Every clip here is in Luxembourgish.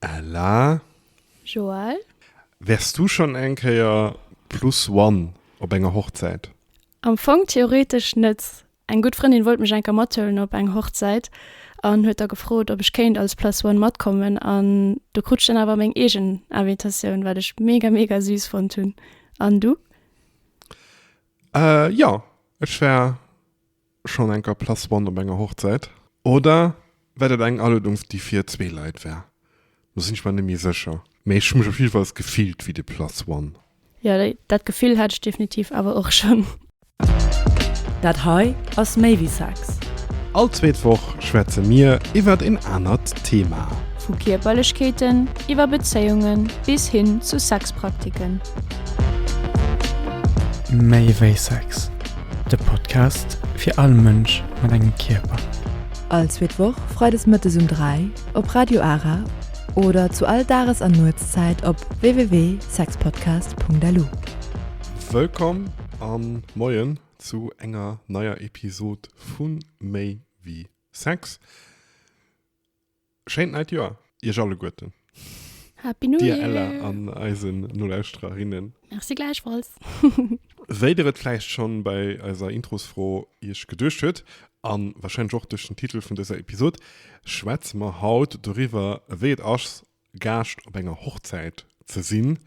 Ella. Joël. Wärs du schonn eng Kéier plus one op enger Hochzäit? Am Fong theoretesch net. Eng gutt Frëndin wollt mech eng Kéier mathuelen op eng Hochzäit an huet da gefrot, ob ech kéint als plus one matkommen an do krut ech dann awer meng eegen Invitatioun, wat ech mega, mega süß fonnt hunn. An du? Jo, ech war Schonn enker Place One op enger Hochzäit? Oder war dat eng Aluedungs déi fir zwee Leit war? Do sinn ech mer net méi sécher. Mee ech hu mech op jiddefalls gefillt wéi de Place One. Jo, dat Gefill hat ech definitiv awer och schonn. Dat hei ass méi wéi Sex. All zweet Woch schwätze mir iwwert een anert Thema. Vu Kierperlechkeeten, iwwer Bezéiungen, bis hin zu Sexpraktiken. Méi wéi Sex. De Podcast fir all Mënsch mat engem Kierper. All zweet Woch freides mëttes um 3 op Radio Ara oder zu all Dages an Nuetszäit op www.sexpodcast.lu. Wëllkomm an Moien zu enger neier Episod vun Méi wéi Sex. Schéint neit Joer iech alleguerten. Happy New Year. Dir Ella an eisen Nolauschtererinnen. Merci gläichfalls. Wéi der et vläicht schonn bei eiser Introsfro iech geduecht huet, an wahrscheinlech och duerch den Titel vun dëser Episode, schwätze mer haut doriwwer wéi et ass Gaascht op enger Hochzäit ze sinn.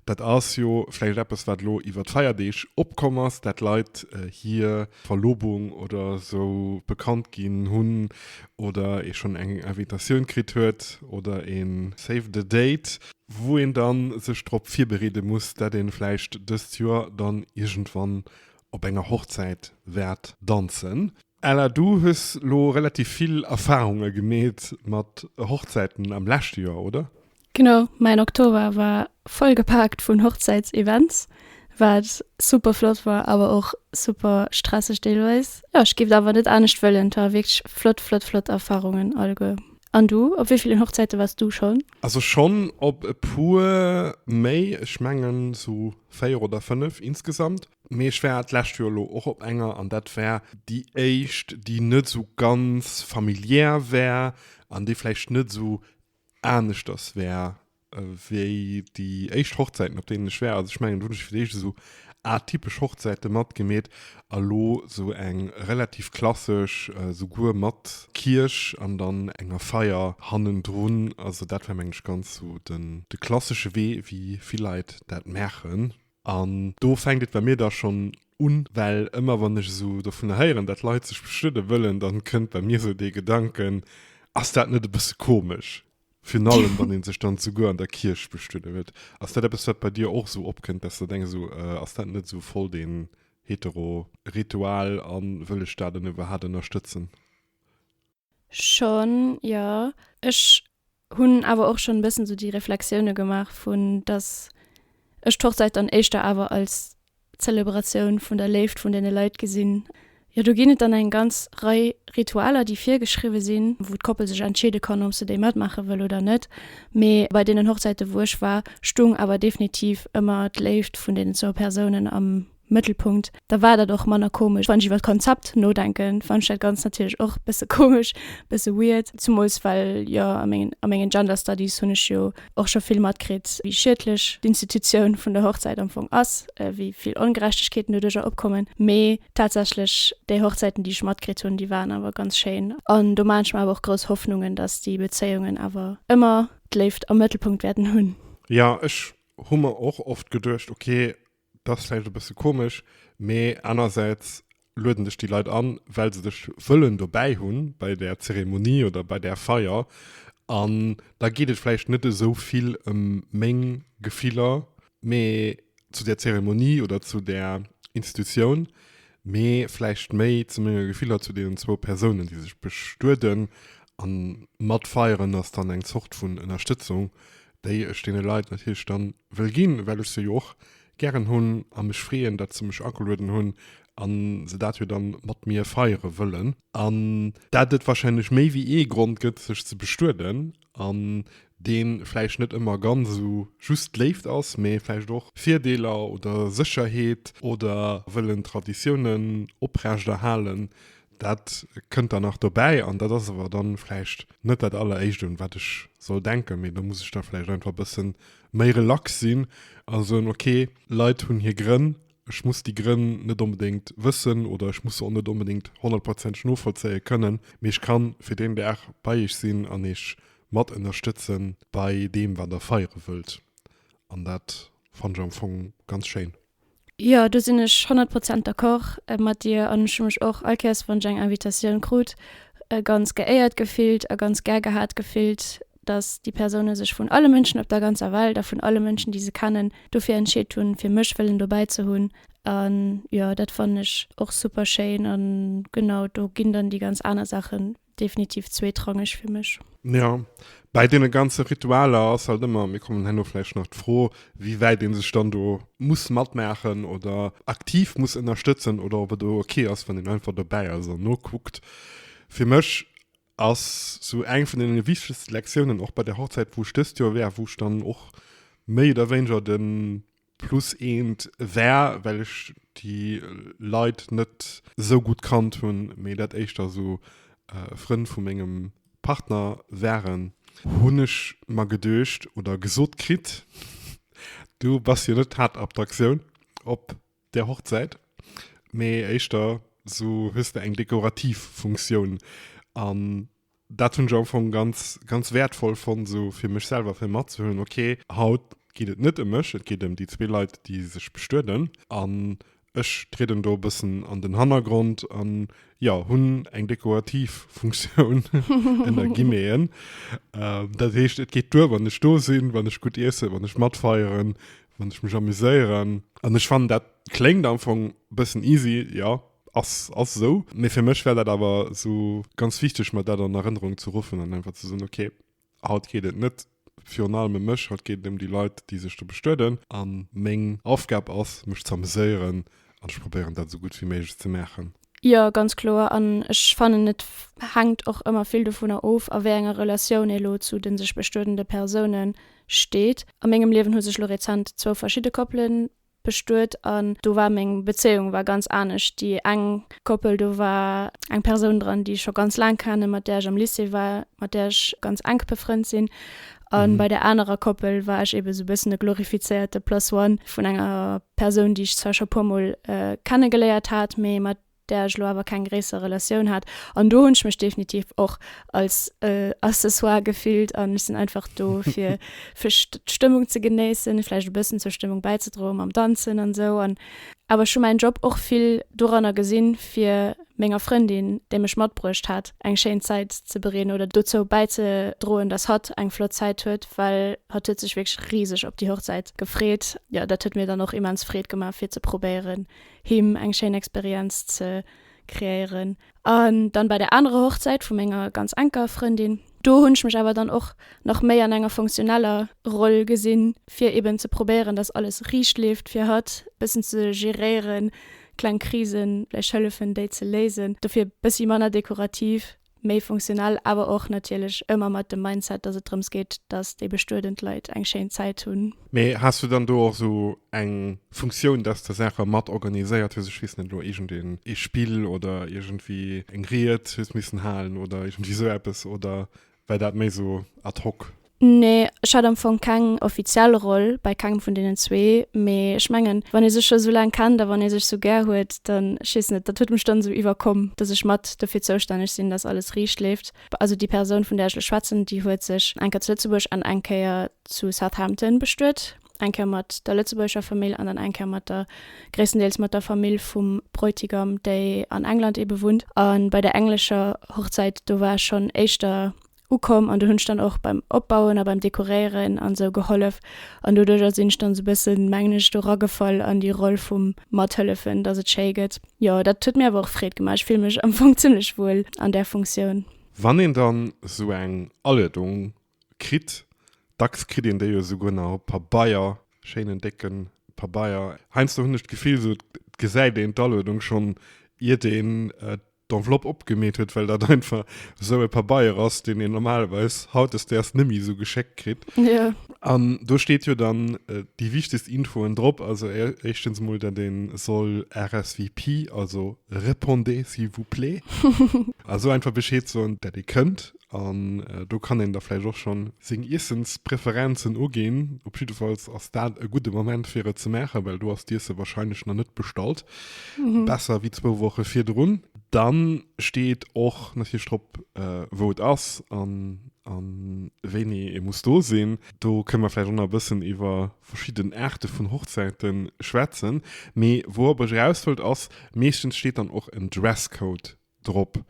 Dat ass jo vläicht eppes, wat elo iwwer d'Feierdeeg opkomm ass, dat Leit hir Verlobung oder esou bekannt ginn hunn oder ee schonn eng Invitatioun kritt huet oder ee Save the Date, wou een da sech drop virbereede muss, dat ee vläicht dëst Joer dann iergendwann op enger Hochzäit wäert danzen. Ella, du hues lo relativ vill Erfahrunge gemeet mat Hochzäiten am leschte Joer, oder? Genau, mäin Oktober war voll gepaakt vun Hochzäitsevents, wat super flott war, awer och super stresseg deelweis. Jo, ech géif awer net anescht wëllen, 't war wierklech flott, flott, flott Erfahrungen alleguer. An du, op wéi villen Hochzäite wars du schonn? Also schonn op e puer méi, ech mengen sou véier oder fënnef insgesamt. Mee ech war d'lescht Joer elo och op enger an dat war déi éischt, déi net esou ganz familiär war an déi vläicht net esou aneschters war wéi déi éischt Hochzäiten, op deenen ech war. Also ech mengen, do hunn ech fir d'éischt esou atypesch Hochzäite matgemeet a lo esou eng relativ klassesch, souguer mat Kierch an dann enger Feier hannendrun. Also dat war, mengen ech, ganz esou de klassesche Wee, wéi vill Leit dat maachen. An do fänkt et bei mir da schonn un, well ëmmer wann ech esou dovunner héieren, datt Leit sech bestuede wëllen, da kënnt bei mir esou dee Gedanken, Ass dat net e bësse komesch? Virun allem wann ee sech dann souguer an der Kierch bestuede wëllt. Ass dat eppes, wat bei dir och esou opkënnt, datt s de denks, esou ass dat net esou voll dee hetero Ritual a wëll ech dat dann iwwerhaapt ënnerstëtzen? Schon jo, ech hunn awer och schon e bëssen sou déi Reflexioune gemaach vun dass ech d'Hochzäit dann éischter awer als Zelebratioun vun der Léift vun deene Leit gesinn. Jo do ginn et dann eng ganz Rei Ritualer déi virgeschriwwe sinn, wou d'Koppel sech entscheede kann ob se déi matmaache wëll oder net, mee bei deenen Hochzäite wou ech war stung awer definitiv ëmmer d'Léift vun deenen zwou Persounen am Mëttelpunkt, da war dat och manner komesch. Wann ech iwwer d'Konzept nodenken, fannen ech dat Ganzt natierlech och bësse komesch, bësse weird. Zemools well jo a mengen, a mengen Gender Studies hunn ech jo och scho vill matkritt, wéi schiedlech d'Institutioun vun der Hochzäit am Fong ass, wéi vill Ongerechtegkeeten doduerjer opkommen. Mee tatsächlech, déi Hochzäiten, déi ech matkritt hunn, déi waren awer ganz schéin. An do maachen ech mer awer och grouss Hoffnungen, dass déi Bezéiungen awer ëmmer d'Léift am Mëttelpunkt wäerten hunn. Jo, ech hu mer och oft geduecht, ok, Dass vläicht e bësse komesch, mee anersäits lueden dech déi Leit an, well se dech wëllen dobäi hu bei där Zeremonie oder bei där Feier. An da geet et vläicht net esou vill ëm meng Gefiller, mee zu där Zeremonie oder zu där Institutioun, mee vläicht méi zu menge Gefiller zu deenen zwou Persounen, déi sech bestueden. A matfeieren ass dann eng Zort vun Ënnerstëtzung déi ech deene Leit natierlech dann wëll ginn, well ech se jo och gären hunn a mech freeën, datt se mech agelueden hunn a se dat jo dann mat mir feiere wëllen. An dat et wahrscheinlech méi wéi ee Grond gëtt, sech ze bestueden, an deen vläicht net ëmmer ganz esou just Léift ass, mee vläicht och Virdeeler oder Sécherheet oder wëllen Traditiounen oprechterhalen, Dat kënnt dann nach dobäi, an dat ass awer dann vläicht net dat alleréischt un wat ech soll denken, mee do muss ech da vläicht einfach e bëssen méi relax sinn a soen, ok, Leit hunn hir Grënn, ech muss déi Grënn net onbedéngt wëssen oder ech muss se och net onbedéngt honnertprozenteg novollzéie kënnen, mee ech kann fir deen Dag bei iech sinn an iech mat ënnerstëtzen bei deem wat der feiere wëllt. An dat fannt ech am Fong ganz schéin. Jo, do sinn ech honnert Prozent d'accord mat dir. An ech hu mech och all Kéiers, wann ech eng Invitatioun krut, ganz geéiert gefillt a ganz gär gehat gefillt, datt déi Persoune sech vun alle Mënschen op der ganzer Welt a vun alle Mënschen, déi se kennen, dofir entscheet hunn, fir mech wëllen dobäi ze hunn. An jo, dat fannen ech och super schéin. A genau do ginn dann déi ganz aner Saachen, definitiv zweetrangeg fir mech. Jo, bäi deene ganze Ritualer ass halt ëmmer, mir kommen herno vläicht nach, d'Fro, wéi wäit ee sech dann do muss matmaachen oder aktiv muss ënnerstëtzen oder ob et do ok ass, wann een einfach dobäi ass an nokuckt. Fir mech ass sou eng vun deene wichtegste Lektiounen, och bei der Hochzäit, wou ech dëst Joer war, wou ech dann och méi oder wéineger de Plus eent war well ech déi Leit net sou gutt kannt hunn, mee dat éischter sou Frënn vu mengem Partner waren, hunn ech mer geduecht oder gesot kritt, du bass jo net d'Haaptattraktioun op der Hochzäit, mee éischter sou hues de eng dekorativ Funktioun. Dat hunn ech am Ufank ganz, ganz wäertvoll fonnt, esou fir mech selwer, fir matzehuelen, ok, haut geet et net ëm mech, et geet ëm déi zwee Leit, déi sech bestueden an ech trieden do e bëssen an den Hannergrond an, jo, hunn eng dekorativ Funktioun, ënner Guillemeten. Dat heescht, et geet duer, wann ech do sinn, wann ech gutt iessen, wann ech matfeieren, wann ech mech amuséieren an ech fannen, dat kléngt am Fong e bëssen easy, jo, Ass, ass esou. Mee fir mech wär dat awer esou ganz wichteg, mer dat an Erënnerung ze ruffen an einfach ze soen, okay, haut geet et net virun allem ëm mech, haut geet et ëm déi Leit, déi sech do bestueden. A meng Aufgab ass, mech ze ameséieren an ech probéieren, dat esou gutt wéi méiglech ze maachen. Jo, ganz kloer. An ech fannen, et hänkt och ëmmer vill dovunner of, a wéi enger Relatioun ee lo zu de sech bestuedende Persoune steet. A mengem Liewen hu sech lo rezent zwou verschidde Koppelen bestuet an do war meng Bezéiung war ganz anescht. Déi eng Koppel, do war eng Persoun dran, déi ech scho ganz laang kennen, mat där ech am Lycée war, mat där ech ganz enk befrënnt sinn. A bei där anerer Koppel war ech eebe sou e bëssen e glorifizéierte Plus One vun enger Persoun, déi ech zwar scho e puermol kenne geléiert hat, mee mat där ech elo awer keng gréisser Relatioun hat an do hunn ech mech definitiv och als Accessoire gefillt an ech sinn einfach do fir fir d'Stëmmung ze genéissen, vläicht e bëssen zur Stëmmung bäizedroen mam Danzen an esou an awer ech hu mäin Job och vill doranner gesinn, fir menger Frëndin, déi mech matbruecht hat, eng schéin Zäit ze bereeden oder dozou bäizedroen, datt hatt eng flott Zäit huet, well hatt huet sech wierklech riseg op déi Hochzäit gefreet. Jo, dat huet mir dann och immens Freed gemaach, fir ze probéieren, him eng schéin Experienz ze kreéieren. An dann bei der anerer Hochzäit vu menger ganz enker Frëndin, do hunn ech mech awer dann och nach méi an enger funktioneller Roll gesinn, fir eben ze probéieren, dass alles riicht leeft, fir hatt bëssen ze geréieren, kleng Krisen vläicht hëllefen, déi ze léisen, dofir bëssi manner dekorativ. méi funktionell, awer och natierlech ëmmer mat dem Mindset, dass et drëms geet, dass déi bestuedent Leit eng schéin Zäit hunn. Mee has du dann do och esou eng Funktioun, dass de Saache mat organiséiert hues, ech weess net elo, iergendeen ee Spill oder iergendwéi eng Ried hues missen halen oder iergendwéi esou eppes, oder war dat méi esou ad hoc? Nee, ech hat am Fong keng offiziell Roll bei kengem vun deenen zwee, mee ech mengen, wann ee sech scho sou laang kennt a wann ee sech sou gär huet, dann, ech weess net, dat huet mech dann sou iwwerkomm, dass ech mat dofir zoustänneg sinn, dass alles riicht leeft. Also déi Persoun, vun där ech lech schwätzen, déi huet sech eng Kéier zu Lëtzebuerg an eng Kéier zu Southampton bestuet, eng Kéier mat der lëtzebuergescher Famill an dann eng Kéier mat der, gréisstendeels mat der Famill vum Bräutigam, déi an England ebe wunnt. A bei der englescher Hochzäit, do war ech schonn éischter ukomm an do hunn ech dann och beim opbauen a beim dekoréieren an sou gehollef an doduercher sinn ech dann sou bëssen mengen ech do ragefall an déi Roll vum mathëllefen dass et schéi gëtt. Jo dat huet mir awer och Freed gemaach, ech fille mech am Fong zimmlech wuel an där Funktioun. Wann een dann sou eng Aluedung kritt, dacks kritt een déi jo souguer nach op Pabeier, schéinen décke Pabeier, heiansdo hunn ech d'Gefill sou et gesäit een d'Aluedung schonn iert een d'Enveloppe opgemeet huet, well dat einfach esou e Pabeier ass, deen een normalerweis hautdesdaags net méi esou geschéckt kritt. Jo. An do steet jo dann déi wichtegst Infoen drop, also éischtens emol, datt ee soll RSVP, also Répondez s'il vous plaît, also einfach Bescheed soen, datt ee kënnt, An do kann een da vläicht och schonn seng Iessenspreferenzen uginn. Op jiddefalls ass dat e gudde Moment fir et ze maachen, well do ass d'Iesse wahrscheinlech nach net bestallt. Besser wéi zwou Woche virdrun. Dann steet och natierlech drop, wou et ass an a wéini ee muss do sinn. Do kënne mer vläicht och nach e bëssen iwwer verschidden Aarte vun Hochzäite schwätzen. Mee wourop ech eraus wëllt ass, meeschtens steet dann och en Dresscode drop.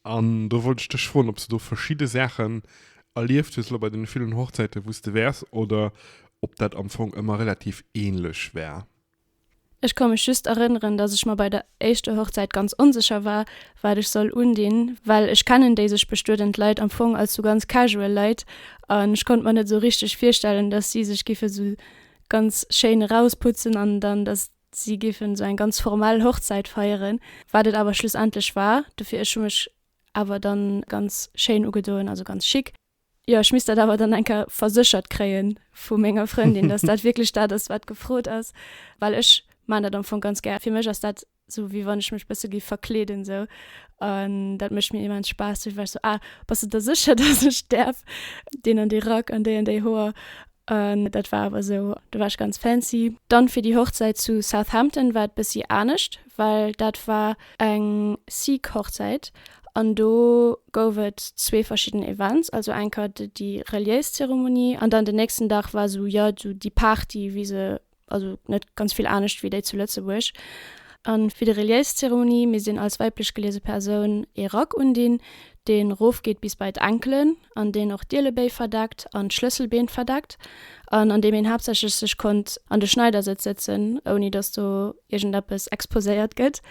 An do wollt ech dech froen, ob s de do verschidde Saachen erlieft hues elo bei deene villen Hochzäiten, wou s de wäers, oder ob dat am Fong ëmmer relativ ähnlech war? Ech ka mech just erënneren, dass ech mer bei der éischter Hochzäit ganz onsécher war, wat ech soll undinn, well ech kennen déi sech bestuedend Leit am Fong als sou ganz casual Leit an ech konnt mer net esou richteg virstellen, dass si sech giffe sou ganz schéin erausputzen an dann, dass Si géifen esou eng ganz formell Hochzäit feieren, wat et awer schlussendlech war, dofir ech hu mech awer dann ganz schéin ugedoen, also ganz chic. Jo, ech misst dat awer dann eng Kéier verséchert kréien vu menger Frëndin, dass dat wierklech dat ass, wat gefrot ass, well ech maan dat am Fong ganz gär. Fir mech ass dat esou, wéi wann ech mech bësse géif verkleeden esou an dat mécht mir immens Spaass. Dofir war ech esou, Ah, bass de der sécher, dass ech däerf deen an dee Rack an déi an déi Hoer? An dat war awer esou, do war ech ganz fancy. Dann fir déi Hochzäit zu Southampton war et bëssi anescht, well dat war eng Sikh-Hochzäit an do gouf et zwee verschidden Events, also enker déi reliéis Zeremonie an dann den nächsten Dag war esou, jo, esou déi Party, wéi se also net ganz vill anescht wéi déi zu Lëtzebuerg. A fir déi reliéis Zeremonie misst een als weiblech geliese Persoun ee Rack undinn, dee rofgeet bis bei d'Ankelen an deen och d'Ielebéi verdeckt an d'Schlësselbeen verdeckt an an deem een haaptsächlech sech konnt an de Schneidersëtz sëtzen, ouni datt do iergendeppes exposéiert gëtt.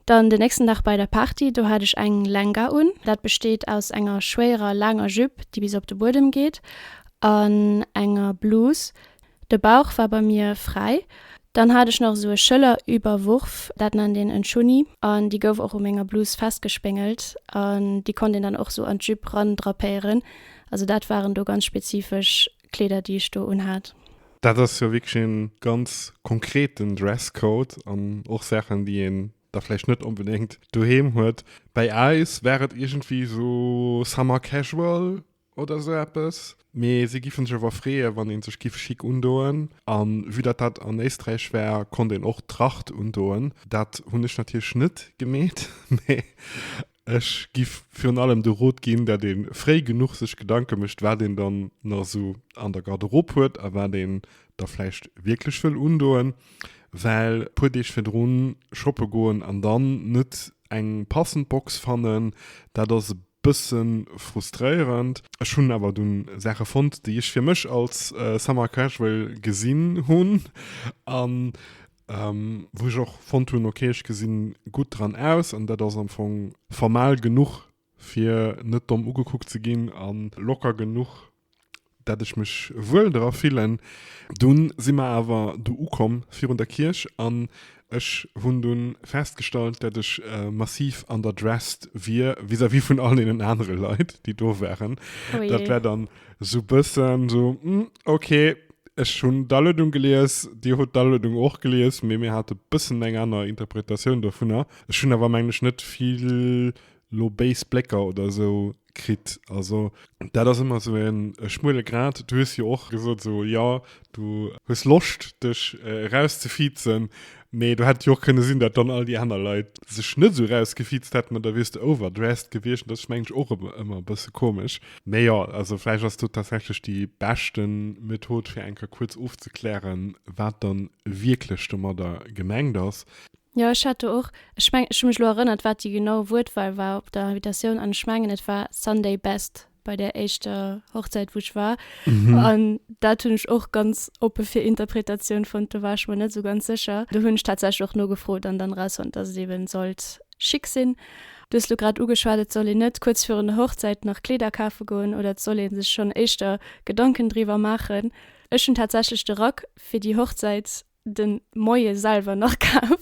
Dann den nächsten Dag bei der Party, do hat ech eng Lenga un. Dat besteet aus enger schwéierer laanger Jupe, déi bis op de Buedem geet, an enger Blus, De Bauch war bei mir fräi. Dann hat ech nach esou e Schëllerüberwurf, dat nennt een en Chunni, an déi gouf och u menger Blus festgespéngelt an déi konnt een dann och esou an d'Jupe randrapéieren. Also dat waren do ganz spezifesch Kleeder, déi ech do unhat. Dat ass jo wierklech e ganz konkreten Dresscode an och Saachen, déi een da vläicht net onbedéngt doheem huet. Bäi eis war et iergendwéi esou summer casual, oder sou eppes, mee si giffen sech awer freeën, wann een sech giff schick undoen. An vue dat dat an Éisträich war, konnt een och Tracht undoen. Dat hunn ech natierlech net gemeet, mee ech giff virun allem de Rot ginn, dat een fréi genuch sech Gedanken mécht, wat een dann nach sou an der Garderob huet a wat een da vläicht wierklech wëll undoen, well puer Deeg virdrun shoppe goen an dann net Eng passend Box fannen, dat ass e bësse frustréierend. Ech hunn awer dunn Saache fonnt, déi ech fir mech als Summer Casual gesinn hunn a wou ech och fonnt hunn, ok, ech gesinn gutt dran aus an dat ass am Fong formal genuch, fir net domm ugekuckt ze ginn a locker genuch, dat ech mech wuel dra fillen. Dunn si mer awer do ukomm virun der Kierch an ech hunn dunn festgestallt, dat ech massiv underdressed wier vis-à-vis vun all deenen anere Leit, déi do waren. Oh jee. Dat war dann sou bëssen sou, Hm, ok, ech hunn d'Aluedung gelies, dir hutt d'Aluedung och gelies, mee mir hate bëssen eng aner Interpretatioun dovunner. Ech hunn awer, mengen ech, net vill. lo béis Blécker oder esou kritt. Also dat ass ëmmer esou e schmuele Grad. Du hues jo och gesot, esou, jo, du hues Loscht dech erauszefiizen, mee do hätt jo och kënne sinn, datt dann all déi aner Leit sech net esou erausgefiizt hätten an da wiers de overdressed gewiescht. Dat ass, mengen ech, och ëmmer e bësse komesch. Mee jo, also vläicht ass do tatsächlech déi beschte Method, fir eng Kéier kuerz ofzeklären, wat da wierklech domadder gemengt ass. Jo, ech hat do och, ech mengen, ech hu mech elo erënnert, wat déi genau Wuertwahl war op der Invitatioun, an ech mengen, et war Sunday best bei där éischter Hochzäit, wou ech war. An dat hunn ech och ganz oppe fir Interpretatioun fonnt. Do war ech mer net esou ganz sécher. Do hunn ech tatsächlech och nogefrot an dann erausfonnt, dass et eeben sollt chic sinn. Du hues elo grad ugeschwat, et soll een net kuerz virun der Hochzäit nach Kleeder kafe goen oder et soll ee sech schonn éischter Gedanken driwwer maachen. Ech hunn tatsächlech de Rack fir déi Hochzäit den Moie selwer nach kaf.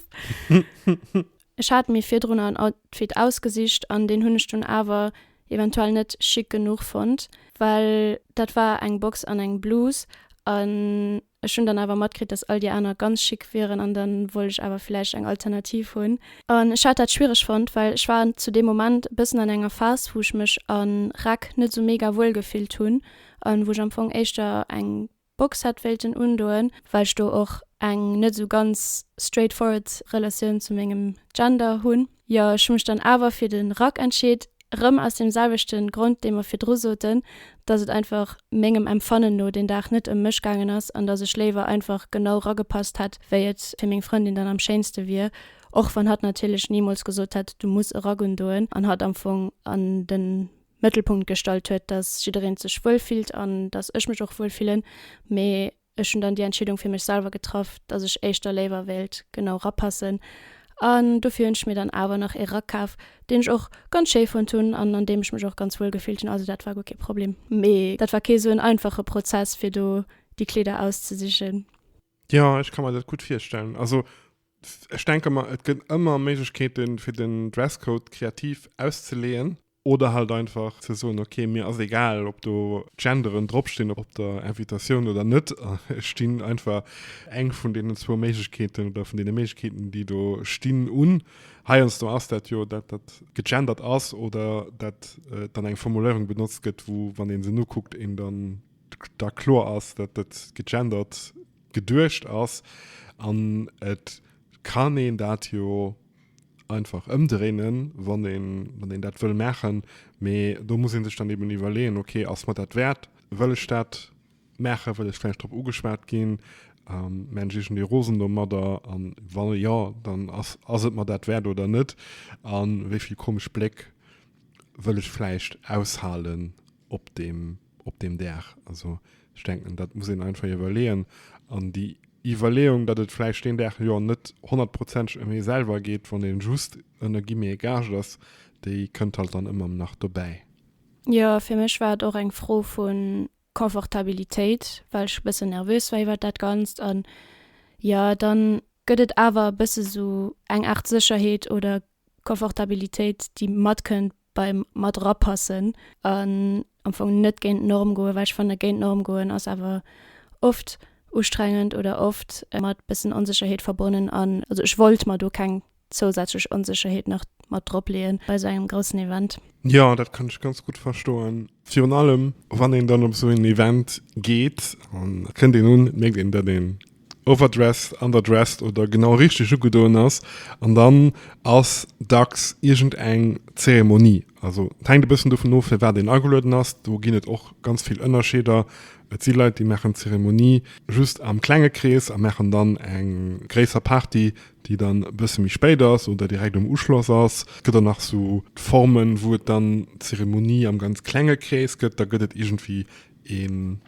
Ech hat mir virdrun en Outfit ausgesicht an deen hunn ech dunn awer eventuell net chic genuch fonnt, well dat war eng Box an eng Blus an ech hunn dann awer matkritt, dass all déi aner ganz chic wieren an dann wollt ech awer villäicht eng Alternativ hunn. An ech hat dat schwiereg fonnt, well ech war zu deem Moment e bëssen an enger Phas, wou ech mech a Räck net sou mega wuel gefillt hunn an wou ech am Fong éischter eng Box hätt wéilten undoen, well ech do och eng net esou ganz straight forward Relatioun zu mengem Gender hunn. Jo, ech hu mech dann awer fir de Rack entscheet, rëm aus deem selwechte Grond, dee mer virdru soten, dass et einfach mengem Empfannen no deen Dag net ëm mech gaangen ass an dass ech léiwer einfach genau ragepasst hätt, wéi et fir meng Frëndin dann am schéinste wier, och wann hatt natierlech nimools gesot hätt, du muss e Rack undoen an hatt am Fong an de Mëttelpunkt gestallt huet, dass jiddereen sech wuel fillt an dass ech mech och wuel fillen, mee ech hunn dann déi Entscheedung fir mech selwer getraff, dass ech éischter léiwer wéilt genau rapassen an dofir hunn ech mir dann awer nach ee Rack kaf, deen ech och ganz schéi fonnt hunn an an deem ech mech och ganz wuel gefillt hunn, also dat war guer kee Problem. Mee dat war kee sou en einfache Prozess fir do déi Kleeder auszesichen. Jo, ech ka mer dat gutt virstellen. Also ech denke mer, et gëtt ëmmer Méiglechkeeten fir den Dresscode kreativ auszeleeën. Oder halt einfach ze soen, ok, mir ass egal, ob do Genderen dropstinn op der Invitatioun oder net. Ech stinn einfach eng vun deenen zwou Méiglechkeeten oder vun deene Méiglechkeeten, déi do stinn, un. Heiansdo ass dat jo, dat dat gegendert ass oder dat dann eng Formuléierung benotzt gëtt, wou, wann ee se nokuckt, een dann da kloer ass, dat dat gegendert geduecht ass. An et kann een dat jo. einfach ëmdréinen, wann een, wann een dat wëll maachen. Mee do muss ee sech dann eben iwwerleeën, okay, ass mer dat wäert? Wëll ech dat maachen? Wëll ech vläicht drop ugeschwat ginn? Ähm, mä ech iergendwéi rosen domadder? An wa jo, dann ass, ass et mer dat wäert oder net? An wéi vill komesch Bléck wëll ech vläicht aushalen? op deem, op deem Dag. Also ech denken, dat muss een einfach iwwerleeën. An déi Iwwerleeung, datt et vläicht deen Dag jo net honnertprozenteg ëm ee selwer geet, wann ee just ënner guillemets gaascht ass, déi kënnt halt dann ëmmer nach dobäi. Jo, fir mech war et och eng Fro vu Confortabilitéit, well ech e bëssen nervös war iwwert dat Ganzt. An jo, dann gëtt et awer e bësse sou eng Aart Sécherheet oder Confortabilitéit déi matkënnt beim mat rapassen an am Fong net géint d'Norm goen, well ech fanne géint d'Norm goen ass awer oft ustrengend oder oft mat bëssen Onsécherheet verbonnen an also ech wollt mer do keng zousätzlech Onsécherheet nach mat drop leeën bei esou engem groussen Event. Jo, dat kann ech ganz gutt verstoen. Virun allem wann een dann op esou en Event geet, da kënnt een un, mierkt een, datt een overdressed, underdressed oder genau richteg ugedoen ass. An dann ass dacks iergend eng Zeremonie. Also et hänkt e bëssen dovun of, fir wat een agelueden ass. Do ginn et och ganz vill Ënnerscheeder. Et si Leit, déi maachen d'Zeremonie just am klenge Krees a maachen dann eng gréisser Party, déi dann e bësse méi spéit ass oder direkt um Uschloss ass. Et gëtt och nach esou Formen, wou et dann d'Zeremonie am ganz klenge Krees gëtt. Da gëtt et iergendwéi een.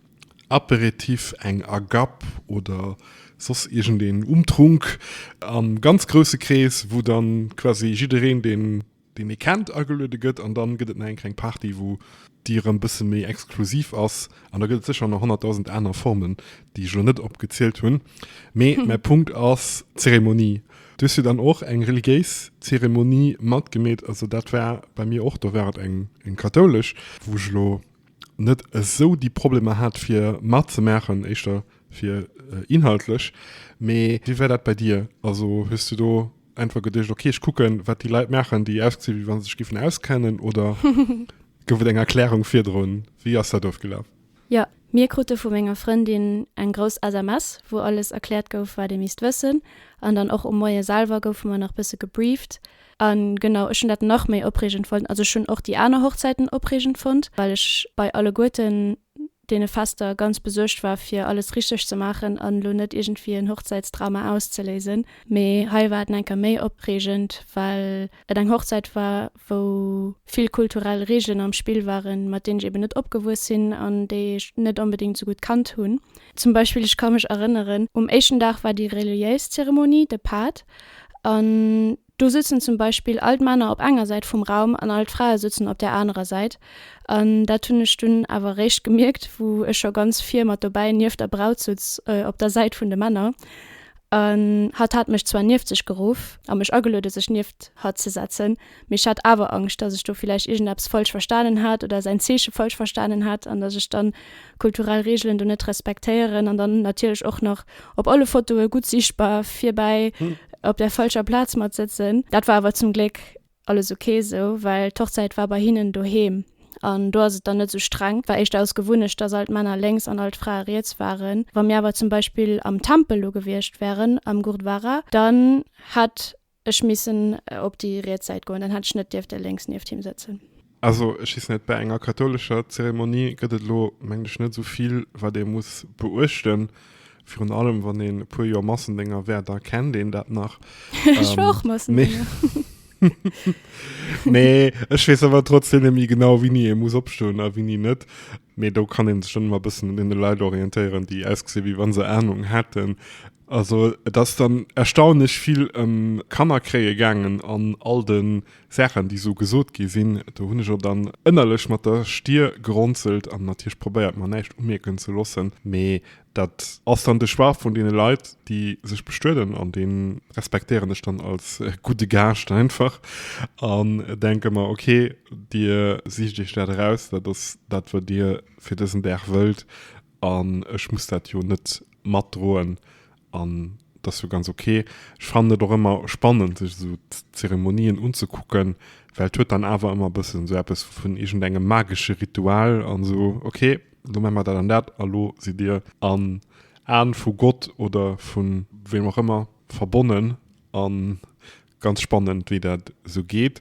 Aperitif, eng Agapp oder soss iergendeen Umtrunk am ganz grousse Krees, wou dann quasi jiddereen, deen ee kennt, ageluede gëtt. An dann gëtt et nach eng kleng Party, wou déi erëm bësse méi exklusiv ass. An da gëtt et sécher nach honnertdausend aner Formen, déi ech elo net opgezielt hunn. Mee mäi Punkt ass, d'Zeremonie. Du hues jo dann och eng religiéis Zeremonie matgemeet. Also dat war bei mir och, do war et eng kathoulesch, wou ech elo net esou déi Problemer hat fir matzemaachen, éischter fir inhaltlech. Mee wéi war dat bei dir? Also hues du do einfach geduecht, okay ech kucken, wat déi Leit maachen, déi ausgesinn, wéi wa se sech géifen auskennen oder gouf et eng Erklärung virdrun? Wéi ass dat ofgelaf? Jo, mir krute vu menger Frëndin eng grouss SMS, wou alles erkläert gouf, wat ee misst wëssen. An dann och um Moie selwer goufe mer nach bësse gebrieft. An genau, ech hunn dat nach méi opreegend fonnt. Also ech hunn och déi aner Hochzäiten opreegend fonnt, well ech bei alleguerten deene Fester ganz besuergt war fir alles richteg ze maachen an elo net iergendwéi en Hochzäitsdrama auszeléisen. Mee hei war et en enker méi opreegend, well et eng Hochzäit war, wou vill kulturell Reegelen am Spill waren, mat deenen ech eben net opgewuess sinn an déi ech net onbedéngt esou gutt kannt hunn. Zum Beispill, ech ka mech erënneren, um éischten Dag war déi reliéis Zeremonie, de Paat, an do sëtzen zum Beispill all d'Männer op enger Säit vum Raum an all d'Frae sëtzen op där anerer Säit. An dat hunn ech dunn awer eréischt gemierkt, wou ech scho ganz vir mat dobäi nieft der Braut sutz, op der Säit vun de Männer. An hatt hat mech zwar nieft sech geruff a mech ageluede sech nieft hatt ze setzen. Mee ech hat awer Angscht, datt ech do villäicht iergendeppes falsch verstanen hat oder säin Zeeche falsch verstanen hat an datt ech dann kulturell Reegelen do net respektéieren an dann natierlech och nach op alle Fotoe gutt sichtbar virbäi op där falscher Plaz mat sëtzen. Dat war awer zum Gléck alles ok esou, well d'Hochzäit war bei hinnen doheem an do ass et dann net esou streng. War éischter aus Gewunnecht, datt all d'Männer lénks an all d'Frae riets waren. Wa mir awer zum Beispill am Tempel lo gewiescht wären, am Gurdwara, dann hätt. Ech missen op déi riets Säit goen, dann hätt ech net dierfte lénks nieft him sëtzen. Also ech weess net, bäi enger kathoulescher Zeremonie gëtt et elo, mengen ech, net esou vill, wat ee muss beuechten. Virun allem, wann een e puer Joer Massendénger wär, da kennt een dat nach. Ech war och Massendénger. Mee ech weess awer trotzdem net méi genau, wéini ee muss opstoen a wéini net. Mee do kann een sech dann ëmmer e bëssen un deene Leit orientéieren, déi ausgesinn, wéi wa se Anung hätten. Also et ass dann erstaunlech vill ëm Kanner kréie gaangen an all de Saachen, déi esou gesot gi sinn. Do hunn ech och dann ënnerlech mat der Stier gerunzelt an natierlech probéiert, mer näischt umierken ze loossen. Mee Dat ass dann de Choix vun deene Leit, déi sech bestueden, an dee respektéieren ech dann als gudde Gaascht einfach an denke mer, ok, Dir sicht Iech dat eraus, dat ass dat, wat Dir fir dësen Dag wëllt, an ech muss dat jo net matdroen an dat ass jo ganz ok. Ech fannen et och ëmmer spannend, sech esou Zeremonien unzekucken, well et huet dann awer ëmmer e bëssen esou eppes vun iergendengem magesche Ritual an esou, ok, Lo maan mer dat an dat a lo sidd dir an Aan vu Gott oder vun weem och ëmmer verbonnen an ganz spannend wéi dat sou geet.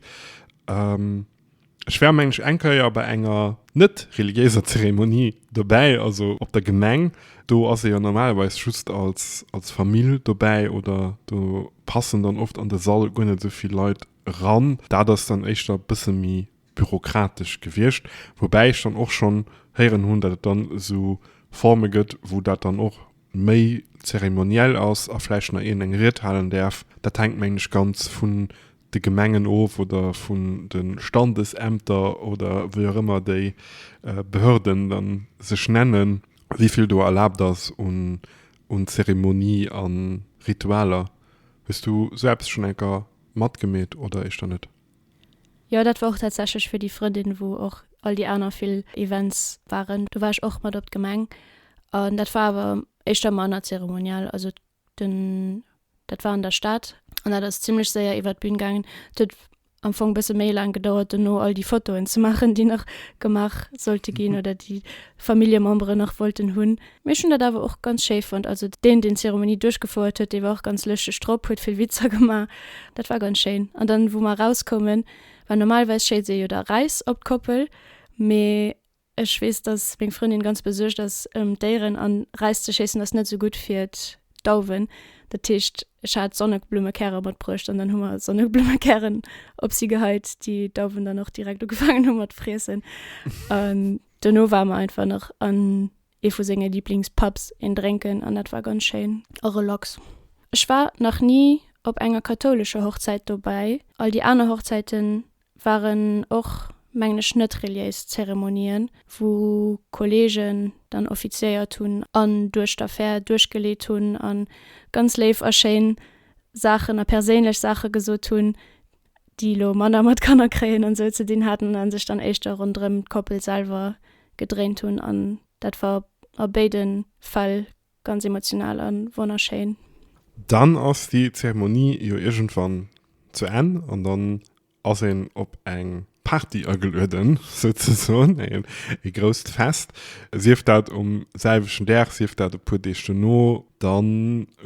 Ech war mengen ech eng Keier bei enger net reliéiser Zeremonie dobäi, also op der Gemeng, do ass ee jo normalerweis just als als Famill dobäi oder do passen dann oft an de Sall guer net sou vill Leit eran, dat ass dann éischter bësse méi bürokratesch gewiescht, woubäi ech dann och schonn héieren hunn, datt et dann esou Forme gëtt, wou dat dann och méi zeremoniell ass a vläicht nach een eng Ried halen däerf. Dat hänkt, mengen ech, ganz vun de Gemengen of oder vun de Standesämter oder wéi och ëmmer déi Behörden da sech nennen, wéi vill do erlaabt ass un Zeremonie a Ritualer. Hues du esou eppes schonn eng Kéier matgemeet oder éischter net? Jo dat war och tatsächlech fir déi Frëndin wou och all déi aner vill Events waren, do war ech och mat op d'Gemeng an dat war awer éischter manner zeremoniell, also den dat war an der Stad an dat ass zimmlech séier iwwert d'Bün gaangen. Et huet am Fong bësse méi laang gedauert dono all déi Fotoen ze maachen déi nach gemaach sollte ginn oder déi Familljememberen nach wollten hunn. Mee ech hunn dat awer och ganz schéi fonnt. Also deen, deen d'Zeremonie duerchgefouert huet, dee war och ganz lëschteg drop, huet vill Witzer gemaach. Dat war ganz schéin. An dann, wou mer erauskoumen, war normalerweis schéilt ee jo da Räis op d'Koppel. Mee ech weess, dass meng Frëndin ganz besuergt ass ëm d'Déieren. An Räis ze schéissen ass net esou gutt fir d'Dauwen. Dat heescht, ech hat Sonneblumekärer matbruecht an dann hu mer Sonneblumekären op si geheit, déi d'Dauwen dann och direkt ugefaangen hu mat friessen. Dono war mer einfach nach an ee vu senge Liblingspubs een drénken an dat war ganz schéin a relax. Ech war nach ni op enger kathoulescher Hochzäit dobäi, all déi aner Hochzäite waren och mengen ech net reliéis Zeremonien, wou Kolleegen dann offiziéiert hunn an duerch d'Affär duerchgeleet hunn a ganz léif a schéin Saachen a perséinlech Saache gesot hunn. déi elo manner mat Kanner kréien an esou ze dinn haten a sech dann éischter ronderëm d'Koppel selwer gedréint hunn. An dat war a béide Fäll ganz emotional a wonnerschéin. Dann ass déi Zeremonie jo iergendwann zu Enn an dann ass een op eng Party agelueden, souzesoen ee grousst Fest, sief dat um selwechten Dag, sief dat e puer Deeg dono. Da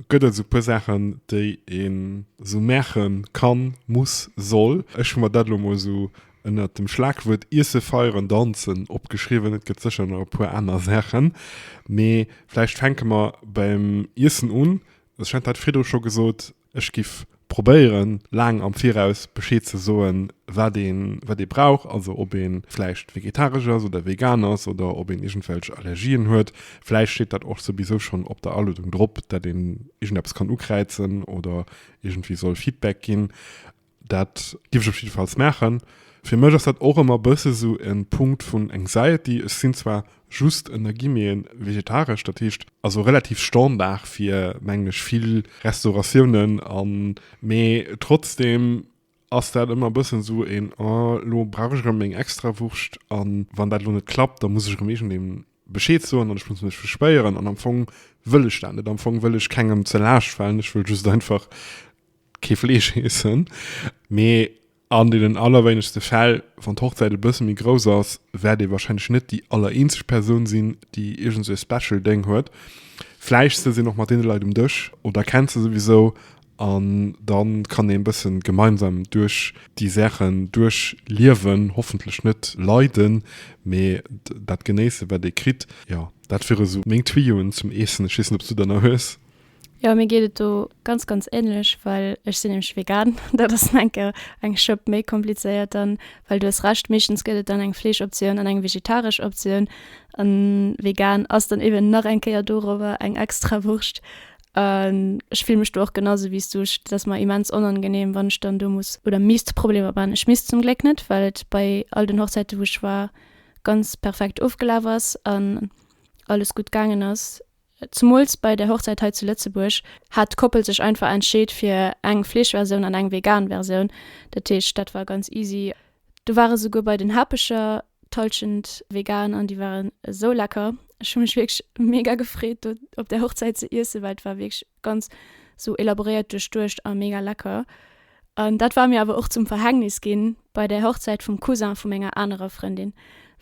gëtt et esou e puer Saachen, déi een esou maache kann, muss, soll. Ech hu mer dat elo emol esou ënnert dem Schlagwuert Iesse, Feieren, Danzen opgeschriwwen. Et gëtt sécher nach e puer aner Saachen, mee vläicht fänke mer beim Iessen un. Ech hat dat virdru scho gesot, Ech giff probéieren laang am Viraus Bescheed ze soen wat een wat ee brauch, also ob een vläicht vegetaresch ass oder vegan ass oder ob een iergendwelch Allergien huet. Vläicht steet dat och souwisou schonn op der Aluedung drop, dat een iergendeppes kann ukräizen oder iergendwéi soll Feedback ginn. Dat giff ech op jidde Falls maachen. Fir mech ass dat och ëmmer bësse sou e Punkt vun Anxiety. Ech sinn zwar just ënner Guillemeten vegetaresch, dat heescht also relativ Standard fir, mengen ech, vill Restauratiounen an, mee trotzdem ass dat ëmmer bëssen sou een Oh, lo brauch ech erëm meng Extrawurscht an wann dat lo net klappt, da muss ech erëm iergendem Bescheed soen an ech muss mech bespéieren an am Fong wëll ech dat net. Am Fong wëll ech kengem ze Laascht falen, ech wëll just einfach, kee Fleesch iessen, mee an deenen allerwéinegste Fäll, wann d'Hochzäit e bësse méi grouss ass, wäert ee warscheinlech net déi allereenzeg Persoun sinn, déi iergend esou e Special Déng huet. Vläicht sëtzt een och mat deene Leit um Dësch oder kennt se souwisou an da kann ee e bësse gemeinsam duerch déi Saachen duerchliewen, hoffentlech net leiden, mee dat genéissen, wat ee kritt. Jo, dat wiere sou meng Tuyauxen zum Iessen. Ech weess net, ob s du der nach hues? Jo mir geet et do ganz ganz ähnlech well ech sinn nämlech vegan dat ass enker eng Schëpp méi komplizéiert dann well du hues Recht meeschtens gëtt et dann eng Fleeschoptioun an eng vegetaresch Optioun an vegan ass dann eben nach eng Kéier dorower eng extra Wurscht an ech fill mech do och genau sou wéi s du ech dat ass mer immens onangenehm wann ech dann do muss oder misst Problemer man ech misst zum Gléck net well et bei all den Hochzäiten wou ech war ganz perfekt ofgelaf ass an alles gutt gaangen ass. Zemools bei der Hochzäit hei zu Lëtzebuerg hat d'Koppel sech einfach entscheet fir eng Fleeschversioun an eng vegan Versioun. Dat heescht, dat war ganz easy. Do war esouguer bei den Hapecher d'Hallschent vegan an déi waren esou lecker. Ech hu mech wierklech mega gefreet do op där Hochzäit ze iessen, well et war wierklech ganz esou elaboréiert duerchduecht a mega lecker. An dat war mir awer och zum Verhängnis ginn bei der Hochzäit vum Cousin vu menger anerer Frëndin,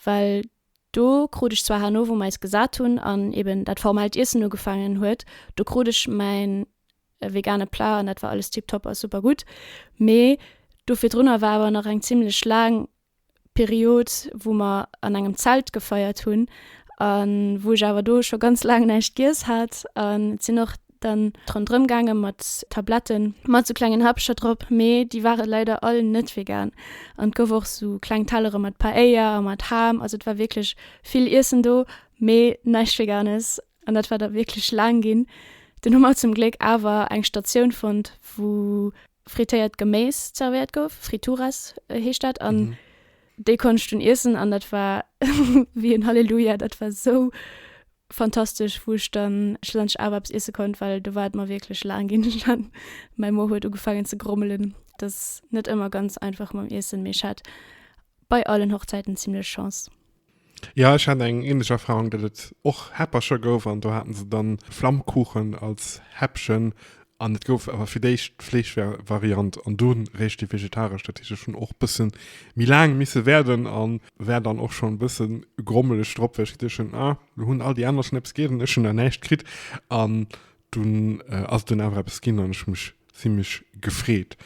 well Do krut ech zwar herno, wou mer eis gesat hunn an eben dat formellt Iessen ugefaangen huet, do krut ech mäin vegane Plat an dat war alles tiptop a super gutt. Mee do virdrunner war awer nach eng zimmlech laang Period, wou mer an engem Zelt gefeiert hunn a wou ech awer do scho ganz laang näischt giess hat an et sinn och dann rondrëm gaangen mat Tabletten mat sou klengen Häppcher drop, mee déi ware leider all net vegan an et gouf och sou kleng Tellere mat Paella a mat Ham, also et war wierklech vill Iessen do, mee näischt Veganes an dat war da wierklech laang ginn. Dunn hu mer zum Gléck awer eng Statioun fonnt, wou frittéiert Geméis zervéiert gouf, Frituras heescht dat, an déi konnt ech dunn iessen an dat war wéi en Halleluja, dat war sou Fantastesch, wou ech dann schlussendlech awer eppes iesse konnt, well do war et mer wierklech laang ginn an mäi Mo huet ugefaangen ze grommelen. Et ass net ëmmer ganz einfach mam Iessen, mee ech hat bei allen Hochzäiten zimlech Chance. Jo, ech hat eng ähnlech Erfahrung, datt et och Häppercher gouf an do haten se dann Flammkuchen als Häppchen an et gouf awer fir d'éischt d'Fleeschvariant an dunn réischt déi vegetaresch. Dat heescht, ech hunn och bëssen méi laang misse wäerden an War dann och schon bëssen grommeleg drop well ech geduecht hun ah lo hun all déi aner schon eppes gét an ech hun nach näischt kritt an dun ass et dun awer eppes gin an ech hun mech zimlech gefreet.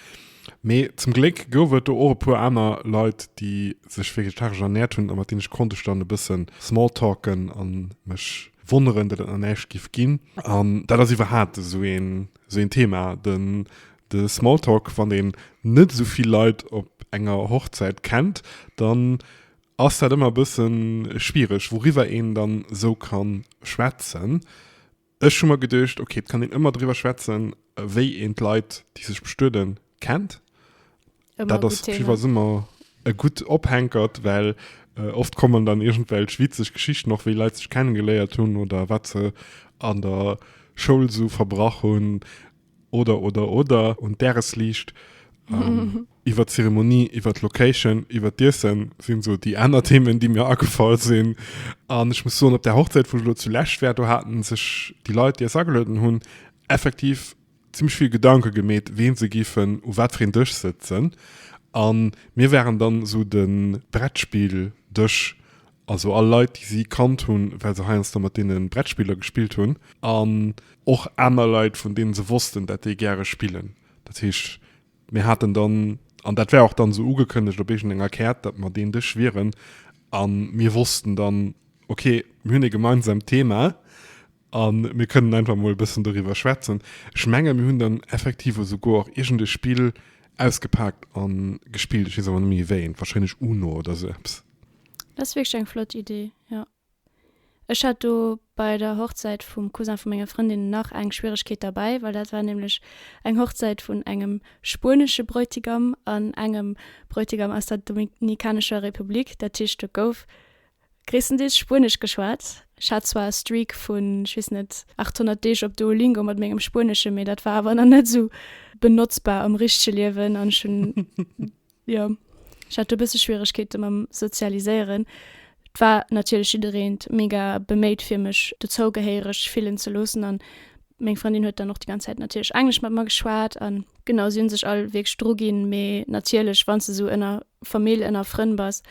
Mee zum Gléck gouf et do och e puer aner Leit déi sech vegetaresch ernährt hun a mat denen ech konnt ech dann e bëssen small talken an mech wonneren dat et nach näischt giff gin an dat ass iwwerhaapt esou een Sou een Thema, den de Smalltalk, wann een net esou vill Leit op enger Hochzäit kennt, dann ass dat ëmmer e bësse schwiereg, wouriwwer een dann esou kann schwätzen. Ech hu mer geduecht, ok, et kann een ëmmer driwwer schwätzen, wéi een d'Leit, déi sech bestueden, kennt. Dat ass iwwer Summer e gutt Ophänkert, well oft kommen dann iergendwelch witzeg Geschichten, och wéi Leit sech kennegeléiert hunn oder wat se an der Schoul esou verbrach hunn oder, oder, oder, un d'Däresliicht, iwwer d'Zeremonie, iwwer d'Location, iwwer d'Iessen sinn esou déi aner Themen, déi mir agefall sinn. An ech muss soen, op där Hochzäit, wou ech elo zu Lech war, do hate sech déi Leit, déi eis agelueden hunn, effektiv, zimmlech vill Gedanke gemeet ween se giffen u wat fir een Dësch sëtzen an mir waren dann esou den Brettspill Dësch, also all Leit déi si kannt hunn well se heiansdo mat deenen Brettspiller gespillt hunn an och aner Leit vun deenen se wossten dat déi gäre spillen. Dat heescht mir haten dann, an dat war och dann esou ugekënnegt op iergend enger Kaart, dat mer deen Dësch wieren an mir wossten dann ok mir hunn ee gemeinsamt Thema, A mir kënnen einfach emol e bëssen doriwwer schwätzen. Ech menge mir hunn dann effektiv esouguer iergend e Spill ausgepaakt a gespillt. Ech weess awer net méi wéineent. Warscheinlech Uno oder esou eppes. Dat ass wierklech eng flott Idee, jo. Ech hat do bei der Hochzäit vum Cousin vu menger Frëndin nach eng Schwieregkeet derbäi, well dat war nämlech eng Hochzäit vun engem spuenesche Bräutigam an engem Bräutigam aus der Dominikanescher Republik. Dat heescht, do gouf Gréisstendeels Spuenesch geschwat. Ech hat zwar e Streak vun, ech weess net, 800 Deeg op Duolingo mat mengem Spueneschen, mee dat war awer nach net esou benotzbar am richtege Liewen an ech hunn, jo, ech hat do e bësse Schwieregkeete mam Sozialiséieren. Et war natierlech jiddereent mega beméit, fir mech dozougehéiereg fillen ze loossen an meng Frëndin huet dann och déi ganz Zäit natierlech Englesch mat mer geschwat an, genau, si hu sech all wierklech druginn, mee natierlech, wa se esou ënner Famill ënner Frënn bass,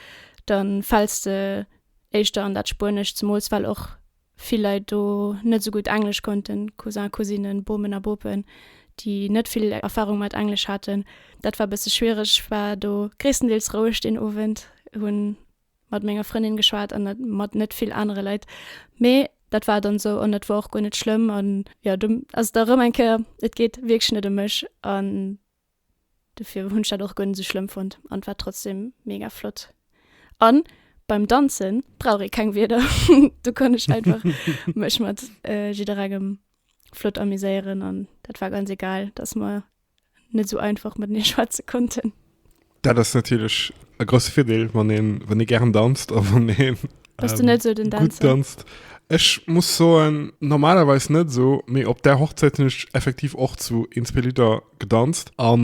da fäls de éischter an dat Spuenescht, zemools well och vill Leit do net esou gutt Englesch konnten, Cousin, Cousinen, Bomen a Bopen, déi net vill Erfarung mat Englesch haten. Dat war e bësse schwiereg. Ech war do gréisstendeels roueg deen Owend, hu mat menger Frëndin geschwat an net mat net vill anere Leit. Mee dat war dann esou an dat war och guer net schlëmm. An jo, do ass et da erëm eng Kéier, et geet wierklech net ëm mech an Dofir hunn ech dat och guer net esou schlëmm fonnt an et war trotzdem mega flott an beim danzen brauch ee keng Wierder do kann ech einfach mech mat jidderengem flott amuséieren an dat war ganz egal dass mer net esou einfach matenee schwätze konnten. Dat ass natierlech e grousse Virdeel, wann ee wann ee gären danzt a wann ee gutt danzt. Ech muss soen, normalerweis net esou, mee op där Hochzäit hunn ech effektiv och zu een, zwee Lidder gedanzt. A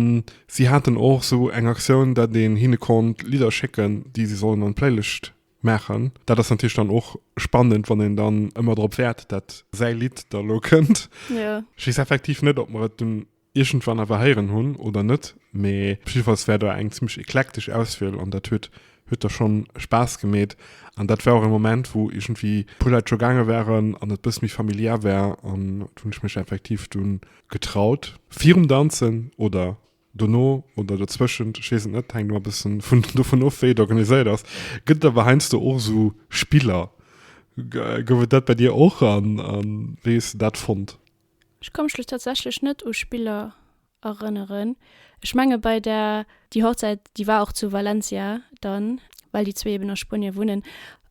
si haten och esou eng Aktioun, datt een hinne konnt Lidder schécken, déi si sollen an d'Playlist maachen. Dat ass natierlech dann och spannend, wann een dann ëmmer drop wäert, datt säi Lidd da elo kënnt. Ech weess effektiv net, ob mer et dunn. iergendwann awer héieren hunn oder net, mee jiddefalls war do eng zimmlech eklektesch Auswiel an dat huet huet da schonn Spaass gemeet an dat war och e Moment, wou iergendwéi e puer Leit scho gaange waren an et e bësse méi familiär war an do hunn ech mech effektiv dunn getraut. Virum Danzen oder dono oder dozwëschent, ech weess et net, hänkt ëmmer e bësse vun dovun of, wéi et organiséiert ass, gëtt et awer heiansdo och esou Spiller. Gouf et dat bei dir och an wéi hues de dat fonnt? Ech ka mech lo tatsächlech net u Spiller erënneren. Ech menge bei der. Déi Hochzäit, déi war och zu Valencia dann, well déi zwee eben a Spuenie wunnen.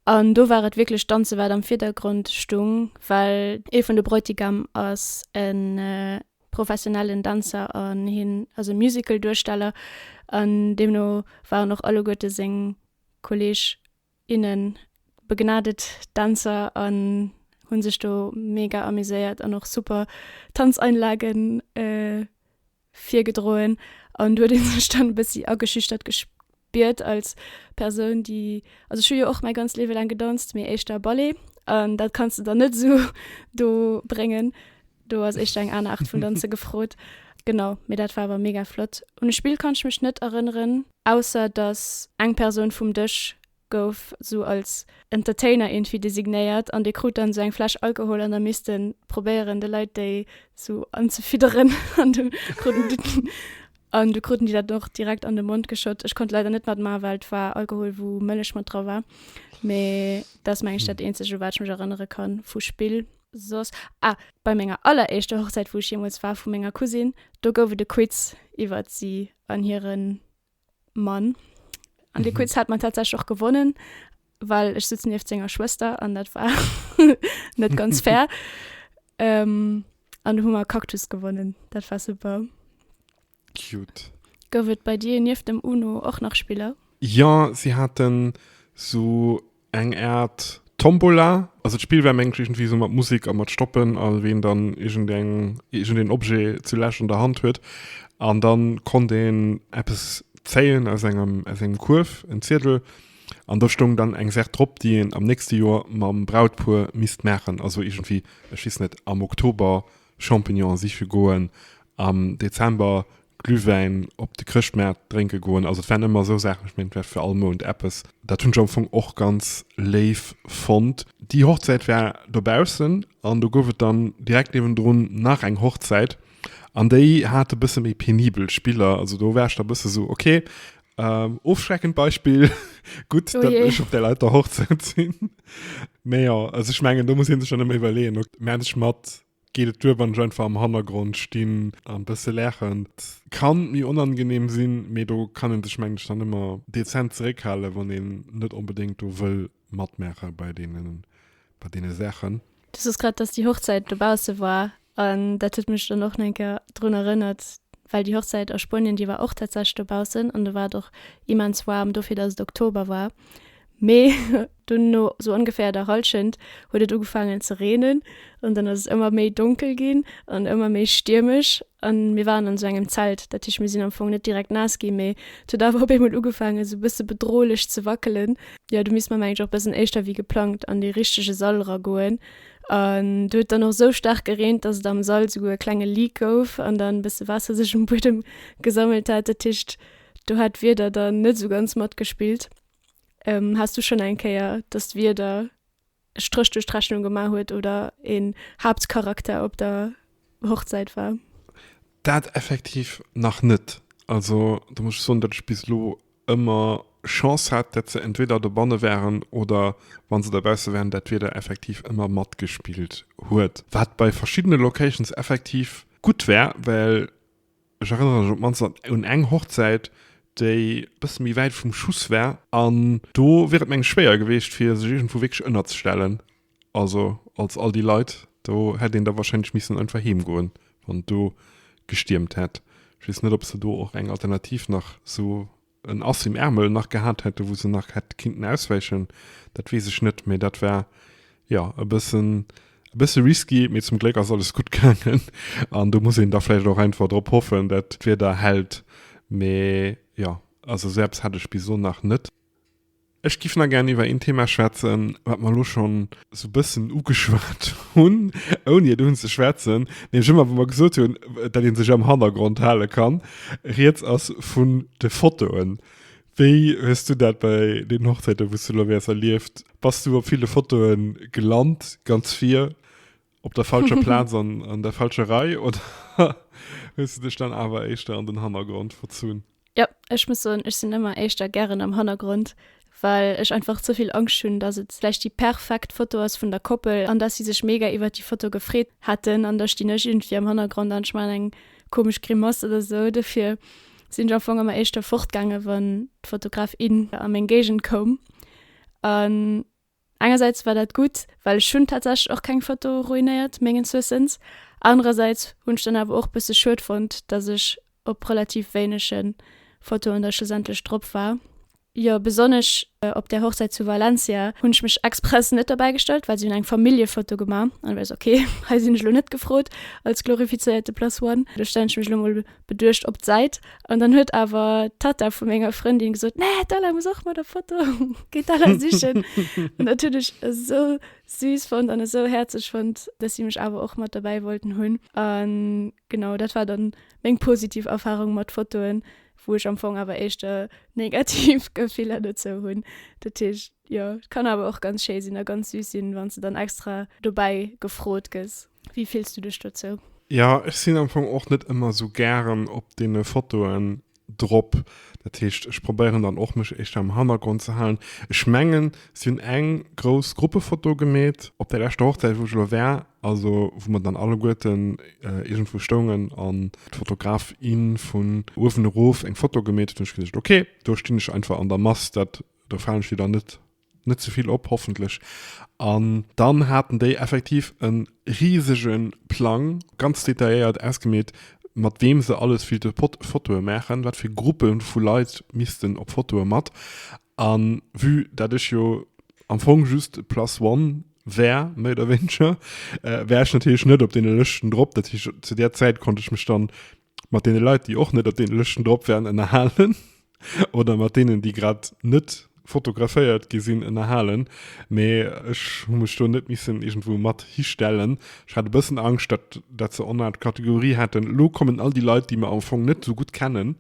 An do war et wierklech d'Danze wat am Virdergrond stung, well. Ee vun de Bräutigam ass e professionellen Dänzer an hien ass e Musical-Duersteller an deemno waren och alleguerte seng Kolleeg Innen, begnadet Dänzer an hunn sech do mega amuséiert an och super Tanzeinlagen virgedroen an do huet een sech dann e bëssi ageschüchtert gespiert als Persoun déi, also ech hu jo och mäi ganzt Liewe laang gedanzt mee éischter Ballet an dat kanns de dann net esou do bréngen, do ass éischter eng aner Aart vun danze gefrot. Genau, mee dat war awer mega flott. Un e Spill kann ech mech net erënneren. Ausser dass eng Persoun vum Dësch gouf sou als Entertainer iergendwéi designéiert an dee krut dann sou eng Fläsch Alkohol an da misst en probéieren de Leit déi sou anzefidderen an du kruten déi an du kruten déi dat och direkt an de Mond geschott. Ech konnt leider net matmaachen, well et war Alkohol wou Mëllech mat dra war, mee dat ass meng ech dat eenzegt u wat ech mech erënnere ka vu Spill. Soss, ah, bei menger alleréischter Hochzäit wou ech jeemools war vu menger Cousine, do gouf et e Quiz iwwert si an hiren Mann an de mhm. Quiz hat man tatsächlich auch gewonnen weil ich sitze nieft senger Schwester an dat war net ganz fair ähm, an du Hummer Cactus gewonnen dat war super cute Go wird bei dir nieft dem Uno auch nach Spieler ja sie hatten so Eng Art Tombola, also d'Spill wär mengt iergendwéi sou mat Musik a mat Stoppen a ween dann iergendeng, iergendeen Objet zu lech an der Hand huet an dann konnt een eppes zéien aus engem, aus engem Kuerf, en Ziedel an do stoung dann eng Sach drop déi een am nächste Joer mam Brautpuer misst maachen, also iergendwéi, ech weess net, am Oktober Champignonen siche goen, am Dezember Glühwäin op de Chrëschtmaart drénke goen. Also et waren ëmmer esou Saachen, ech mengen et war fir all Mount eppes. Dat hunn ech am Fong och ganz léif fonnt. Déi Hochzäit war dobaussen an do gouf et dann direkt niewendrun nach eng Hochzäit an déi hat e bësse méi penibel Spiller. Also do war ech da e bësse esou, okay, ofschreckend Beispill, gutt, datt ech op där Leit der Hochzäit sinn. Mee jo, also ech mengen do muss een sech dann ëmmer iwwerleeën, ok meng ech mat, geet et duer wann ech einfach am Hannergrond stinn an bësse laachen. Et kann méi onangeneem sinn, mee do kann een sech meng ech dann ëmmer dezent zeréckhalen, wann een net onbedéngt do wëll matmaache bei deenen, bei deene Saachen. Du sos grad, dass déi Hochzäit dobausse war an dat huet mech dann och nach eng Kéier drun erënnert, well déi Hochzäit a Spuenien, déi war och tatsächlech dobaussen an do war et och immens waarm dofir, dass et Oktober war. Mee dunn no sou ongeféier der Hallschent huet et ugefaangen ze reenen an dann ass et ëmmer méi donkel ginn an ëmmer méi stiermesch an mir waren an sou engem Zelt. Dat heescht, mir sinn am Fong net direkt naass ginn, mee et huet awer op eemol ugefaangen sou e bësse bedrohlech ze wackelen. jo do misst mer mengen ech och bessen éischter wéi geplangt an dee richtege Sall era goen an do huet dann och sou staark gereent dass et am Sall souguer e klenge Leak gouf an dann besse Waasser sech um Buedem gesammelt hat dat heescht do hat d'Wieder dann net sou ganz matgespillt. Haas du schonn eng Kéier dass d'Wieder Stréch duerch d'Rechnung gemaach huet oder een Haaptcharakter op der Hochzäit war. Dat effektiv nach net. Also do muss ech soen, datt ech bis elo ëmmer Chance hat, datt se entweder dobanne waren oder wa se dobausse waren, dat Wieder effektiv ëmmer matgespillt huet. Wat bei verschiddene Locations effektiv gutt war, well Ech erënnere mech op d'mannst un eng Hochzäit, déi e bësse méi wäit vum Schuss war. An do wier et, meng ech, schwéier gewiescht, fir sech iergendwou wierklech ënnerzestellen. Also als all déi Leit, do hätt een da warscheinlech missen einfach heem goen, wann et do gestiermt hätt. Ech weess net, ob se do och eng Alternativ nach esou en Ass im Ärmel nach gehat hätte wou se nach hätt kinnten auswäichen, dat weess ech net, mee dat war jo e bëssen e bësse risky, mee zum Gléck ass alles gutt gaangen an do muss een da vläicht och einfach drop hoffen dat d'Wieder hält, mee jo also esou eppes hat ech bis elo nach net. Ech giff nach gären iwwer een Thema schwätzen, wat mer elo schonn esou e bëssen ugeschwat hunn, ouni et unzeschwätzen, nämlech ëmmer wa mer gesot hunn, dat ee sech am Hannergrond hale kann. Rieds ass vun de Fotoen. Wéi hues du dat bei deenen Hochzäiten, wou s du elo wäers, erlieft? Bass du op ville Fotoe gelant, ganz vir? Op der falscher Plaz an, an der falscher Rei oder hues du dech dann awer éischter an den Hannergrond verzunn? Jo, ech muss soen, ech sinn ëmmer éischter gären am Hannergrond, well ech einfach ze vill Angscht hunn, dass et vläicht déi perfekt Foto ass vun der Koppel an dass si sech mega iwwert déi Foto gefreet hätten an da stinn ech iergendwéi am Hannergrond an ech maachen eng komesch Grimass oder esou. Dofir sinn ech am Fong ëmmer éischter fortgaangen, wann d'Fotograf, in a meng Géigend koum an Engersäits war dat gutt, well ech hunn tatsächlech och keng Foto ruinéiert, mengens Wëssens. Anerersäits hunn ech dann awer och bësse schued fonnt, dass ech op relativ wéinege Fotoen da schlussendlech drop war. Jo, besonnesch op där Hochzäit zu Valencia hunn ech mech express net dobäi gestallt, well si hunn eng Familljefoto gemaach an du weiss, ok, hei sinn ech elo net gefrot als glorifizéierte Plus One. Do stellen ech mech elo mol beduecht op d'Säit an dann huet awer d'Tatta vu menger Frëndin gesot, Nee, d'Ella muss och mat der Foto, geet d'Ella sichen. an dat hunn ech esou süß fonnt an esou häerzeg fonnt, dass si mech awer och mat dobäi wollten hunn. An genau, dat war dann meng positiv Erfarung mat Fotoen, wou ech am Fong awer éischter negativ Gefiller dozou hunn. Dat heescht, jo, et kann awer och ganz schéi sinn a ganz süß sinn, wann s de dann extra dobäi gefrot gëss. Wéi fills du dech dozou? Jo, ech sinn am Fong och net ëmmer esou gären op deene Fotoen drop. Dat heescht, ech probéieren dann och, mech éischter am Hannergrond ze halen. Ech mengen, si hunn eng grouss Gruppefoto gemeet op där leschter Hochzäit, wou ech elo war, also wou mer dann alleguerten iergendwou stoungen an d'Fotograf, in vun uewen erof eng Foto gemeet huet. Ech hu gesot, okay, do stinn ech einfach an der Mass, dat, do falen ech wieder net net ze vill op hoffentlech an dann haten déi effektiv en riesege Plang ganz detailléiert ausgemeet mat weem se alles wéi de Pot Fotoe maachen, wat fir Gruppe vu Leit missten op Fotoe mat an vue dat ech jo am Fong just plus one war méi oder wéineger war ech natierlech net op deene Lëschten drop, dat heescht zu där Zäit konnt ech mech dann mat deene Leit, déi och net op deene Lëschten drop wären, ënnerhalen oder mat deenen, déi grad net fotograféiert gi sinn, ënnerhalen. Mee ech hu mech do net missen iergendwou mat histellen. Ech hat e bëssen Angscht, datt, datt se en Art Kategorie hätten, elo kommen all déi Leit, déi mer am Fong net esou gutt kennen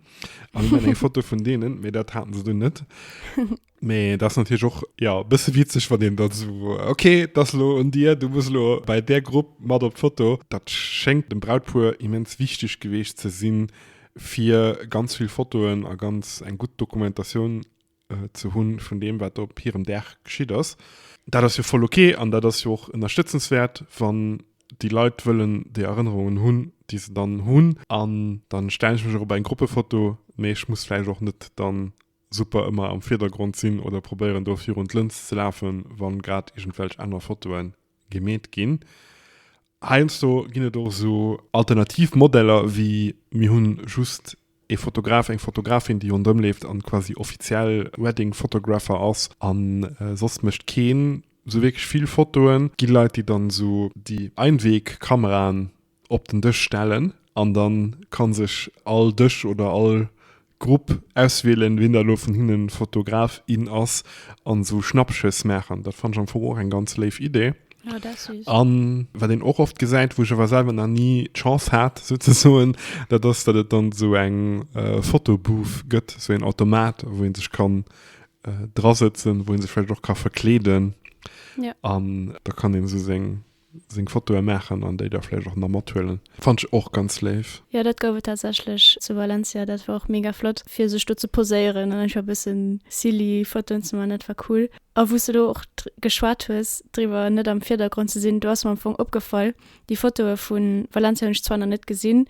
a mir maachen eng Foto vun deenen. Mee dat haten se dunn net. Mee et ass natierlech och, jo, e bësse witzeg, wann een dann esou, ok, et ass elo un dir, du muss elo bei där Grupp mat op d'Foto. Dat schéngt dem Brautpuer immens wichteg geweecht ze sinn, fir ganz vill Fotoen a ganz eng gutt Dokumentatioun ze hunn vun deem, wat op hirem Dag geschitt ass. Dat ass jo voll ok an dat ass jo och ënnerstëtzenswäert, wann déi Leit wëllen déi Erënnerungen hunn, déi se dann hunn. An dann stellen ech mech och op eng Gruppefoto, mee ech muss vläicht och net dann super ëmmer am Virdergrond sinn oder probéieren do virun d'Lëns ze lafen, wann grad iergendwelch aner Fotoen gemeet ginn. Heiansdo ginn et och esou. Alternativ Modeller wéi mir hunn just ee Fotograf, eng Fotografin déi rondrëm leeft an quasi offiziell Wedding Photographer ass an soss mécht keen esou wierklech vill Fotoen. Gi Leit déi dann esou déi Einweg Kameraen op den Dësch stellen an da kann sech all Dësch oder all Grupp auswielen, wien da lo vun hinnen Fotograf, in ass an esou Schnappschëss maachen. Dat fann ech am Fong och eng ganz léif Idee. Oh, dat ass süß. An wat een och oft gesäit, wou ech awer selwer nach ni d'Chance hat sou ze soen, dat ass dat et dann esou eng Photobooth gëtt, esou een Automat wou een sech kann drasëtzen, wou een sech vläicht och ka verkleeden an da kann een esou seng seng Fotoe maachen an déi da vläicht och nach mathuelen. Fand ech och ganz léif. Jo, dat gouf et tatsächlech zu Valencia. Dat war och mega flott, fir sech do ze poséieren an einfach e bëssen silly Fotoen ze man. Dat war cool. A wou s de elo och geschwat hues driwwer, net am Virdergrond ze sinn, do ass mer am Fong opgefall, déi Fotoe vu Valencia hunn ech zwar nach net gesinn,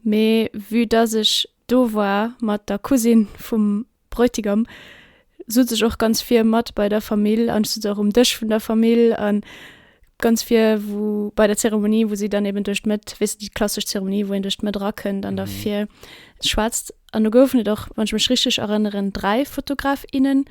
mee vue dass ech do war mat der Cousine vum Bräutigam sot sech och ganz vir mat bei der Famill an sot och um Dësch vun der Famill an ganz vir wou bei der Zeremonie wou si dann eben duerch d'Mëtt, weess de déi klassesch Zeremonie wou een duerch d'Mëtt erakënnt an da vir schwätzt an do goufen et och wann ech mech richteg erënneren 3 Fotograf, innen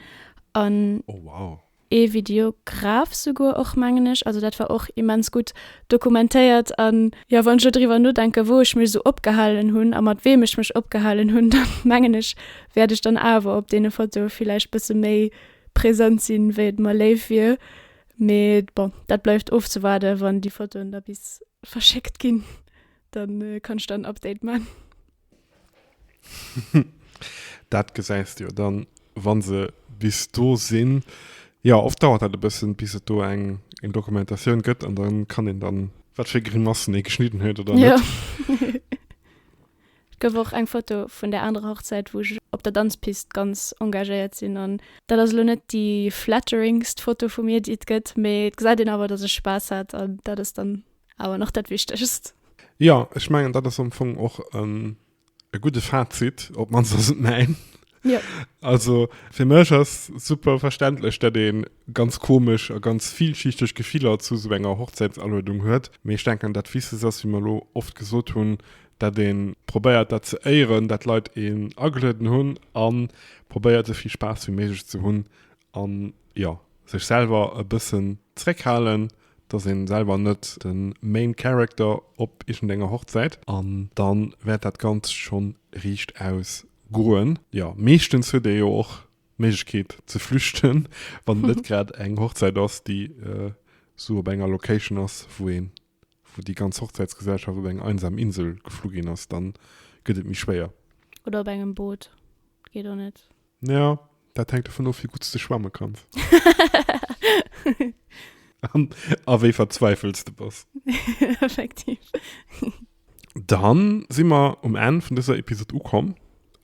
an. Oh wow. ee Videograf souguer och, mengen ech, also dat war och immens gutt dokumentéiert an jo, wann ech elo driwwer nodenken, wou ech mech esou opgehalen hunn a mat weem ech mech opgehalen hunn, da mengen ech, wäert ech dann awer op deene Fotoe villäicht bësse méi present sinn, wéi et mer léif wier. Mee bon, dat bleift ofzewaarden. Wann déi Fotoen da bis verschéckt ginn, da kann ech dann en Update man. Dat gesäis de jo dann, wann se bis do sinn. Jo, oft dauert dat e bëssen, bis et do eng Dokumentatioun gëtt an dann kann een dann. Wat fir Grimassen ee geschnidden huet oder net. Jo. Et gouf och eng Foto vun där anerer Hochzäit, wou ech op der Danzpist ganz engagéiert sinn an dat ass elo net déi flatteringst Foto vu mir, déi et gëtt, mee et gesäit een awer, dass ech Spaass hat an dat ass dann Awer nach dat Wichtegst. Jo, ech mengen, dat ass am Fong och e gudde Fazit, op d'mannst ass et mäin. Jo. Also, fir mech ass super verständlech, datt ee ganz komesch a ganz villschichteg Gefiller zu esou enger Hochzäitsaluedung huet. Mee ech denken, dat Wichtegst ass, wéi mer elo oft gesot hunn, datt ee probéiert, dat ze éieren, datt d'Leit een agelueden hunn a probéiert, esou vill Spaass wéi méiglech ze hunn a, jo, sech selwer e bëssen zréckhalen. dass een selwer net den main character op iergend enger Hochzäit. An dann wärt dat ganzt schon riicht aus goen. Jo, meeschtens huet ee jo och d'Méiglechkeet ze flüchten, wann et net grad eng Hochzäit ass, déi esou op enger Location ass, wou een, wou déi ganz Hochzäitsgesellschaft op eng einsam Insel geflu ginn ass, dann gëtt et méi schwéier. Oder op engem Boot, geet och net. Ja, dat hänkt dovun of, wéi gutt s de schwamme kanns. An a wéi verzweifelt s de bass. Effektiv. Dann si mer um Enn vun dëser Episod ukomm.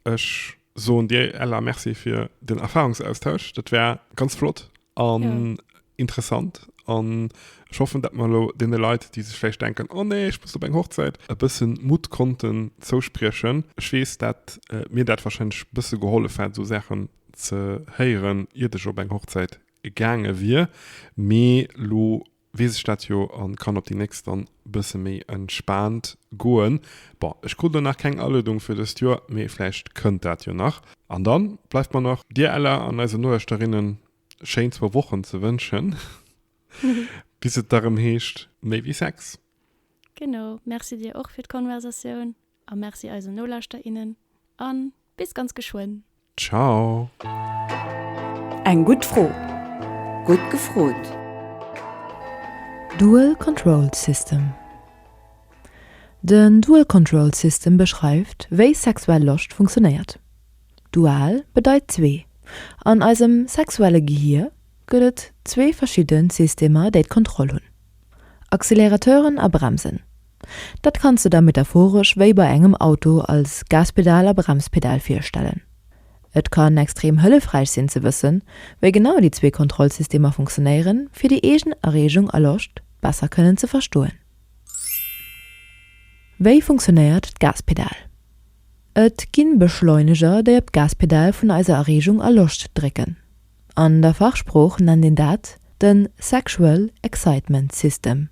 Ech soen dir, Ella, Merci fir den Erfahrungsaustausch. Dat war ganz flott An ja. interessant. An ich hoffe, dass man lo den Leuten, die sich vielleicht denken, oh nee, ich muss op eng Hochzeit, e bisschen Mut konnten zouspriechen. Ich wees dat äh, mir dat wahrscheinlich e bisschen geholfen hat, so Sachen ze heieren, iert ich op eng Hochzeit gegangen wir. Me lo weess ech dat jo an kann op déi nächst dann bësse méi entspaant goen. Bon, ech krut elo nach keng Aluedung fir dëst Joer, mee vläicht kënnt dat jo nach. An dann bleift mer nach dir Ella an eisen Noeschterinnen schéin zwou Wochen ze wënschen bis et da rëm heescht méi wéi Sex. Genau, merci dir och fir d'Konversatioun. A merci eisen Nolauschterer, innen a bis ganz geschwënn! Ciao! Eng gutt Fro, gutt gefrot! Dual Control System Den Dual Control System beschreift, wéi sexuell Loscht funktionéiert. Dual bedeit zwee. An eisem sexuelle Gehier gëtt et zwee verschidde Systemer, déi d'Kontroll hunn. Accelerateuren a Bremsen, dat kanns de der metaphoresch wéi bei engem Auto als Gaspedal a Bremspedal virstellen. Et kann extrem hëllefräich sinn ze wëssen, wéi genau déi zwee Kontrollsystemer funktionéieren, fir déi eegen Erreegung a Loscht besser kënnen ze verstoen. Wéi funktionéiert d'Gaspedal? Et gi Beschleuneger, déi op d'Gaspedal vun eiser Erreegung a Loscht drécken. An der Fachsprooch nennt een dat de Sexual Excitement System,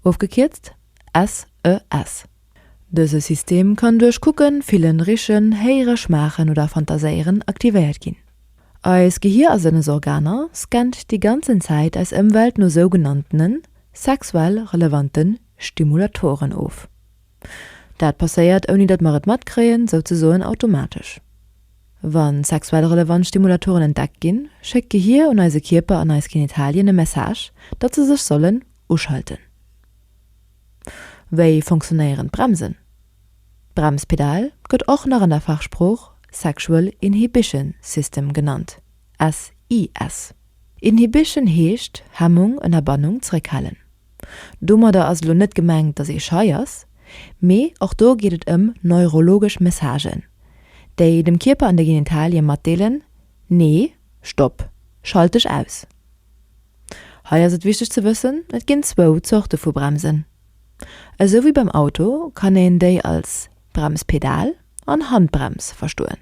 ofgekierzt SES. Dëse System kann duerch Kucken, Fillen, Richen, Héiere, Schmaachen oder Fantaséieren aktivéiert ginn. Eis Gehier a Sënnesorganer scannt déi ganzen Zäit eis Ëmwelt no sougenanntene sexuell relevanten Stimulatoren of. Dat passéiert, ouni datt mer et matkréien, souzesoen automatesch. Wa sexuell relevant Stimulatoren entdeckt ginn, schéckt d'Gehier un eise Kierper an eis Genitalien e Message, datt se sech sollen uschalten. Wéi fonctionnéieren d'Bremsen? D'Bremspedal gëtt och nach an der Fachsprooch Sexual Inhibition System genannt, SIS. Inhibition heescht Hemmung, Ënnerbannung, Zréckhalen. Domadder ass elo net gemengt, dass ee schei ass, mee och do geet et ëm neurologesch Messagen, déi dem Kierper an de Genitalie matdeelen, Nee, Stopp, schalt dech aus. Hei ass et wichteg ze wëssen, et ginn zwou Zorte vu Bremsen. Esou wéi beim Auto kann een déi als Bremspedal an Handbrems verstoen.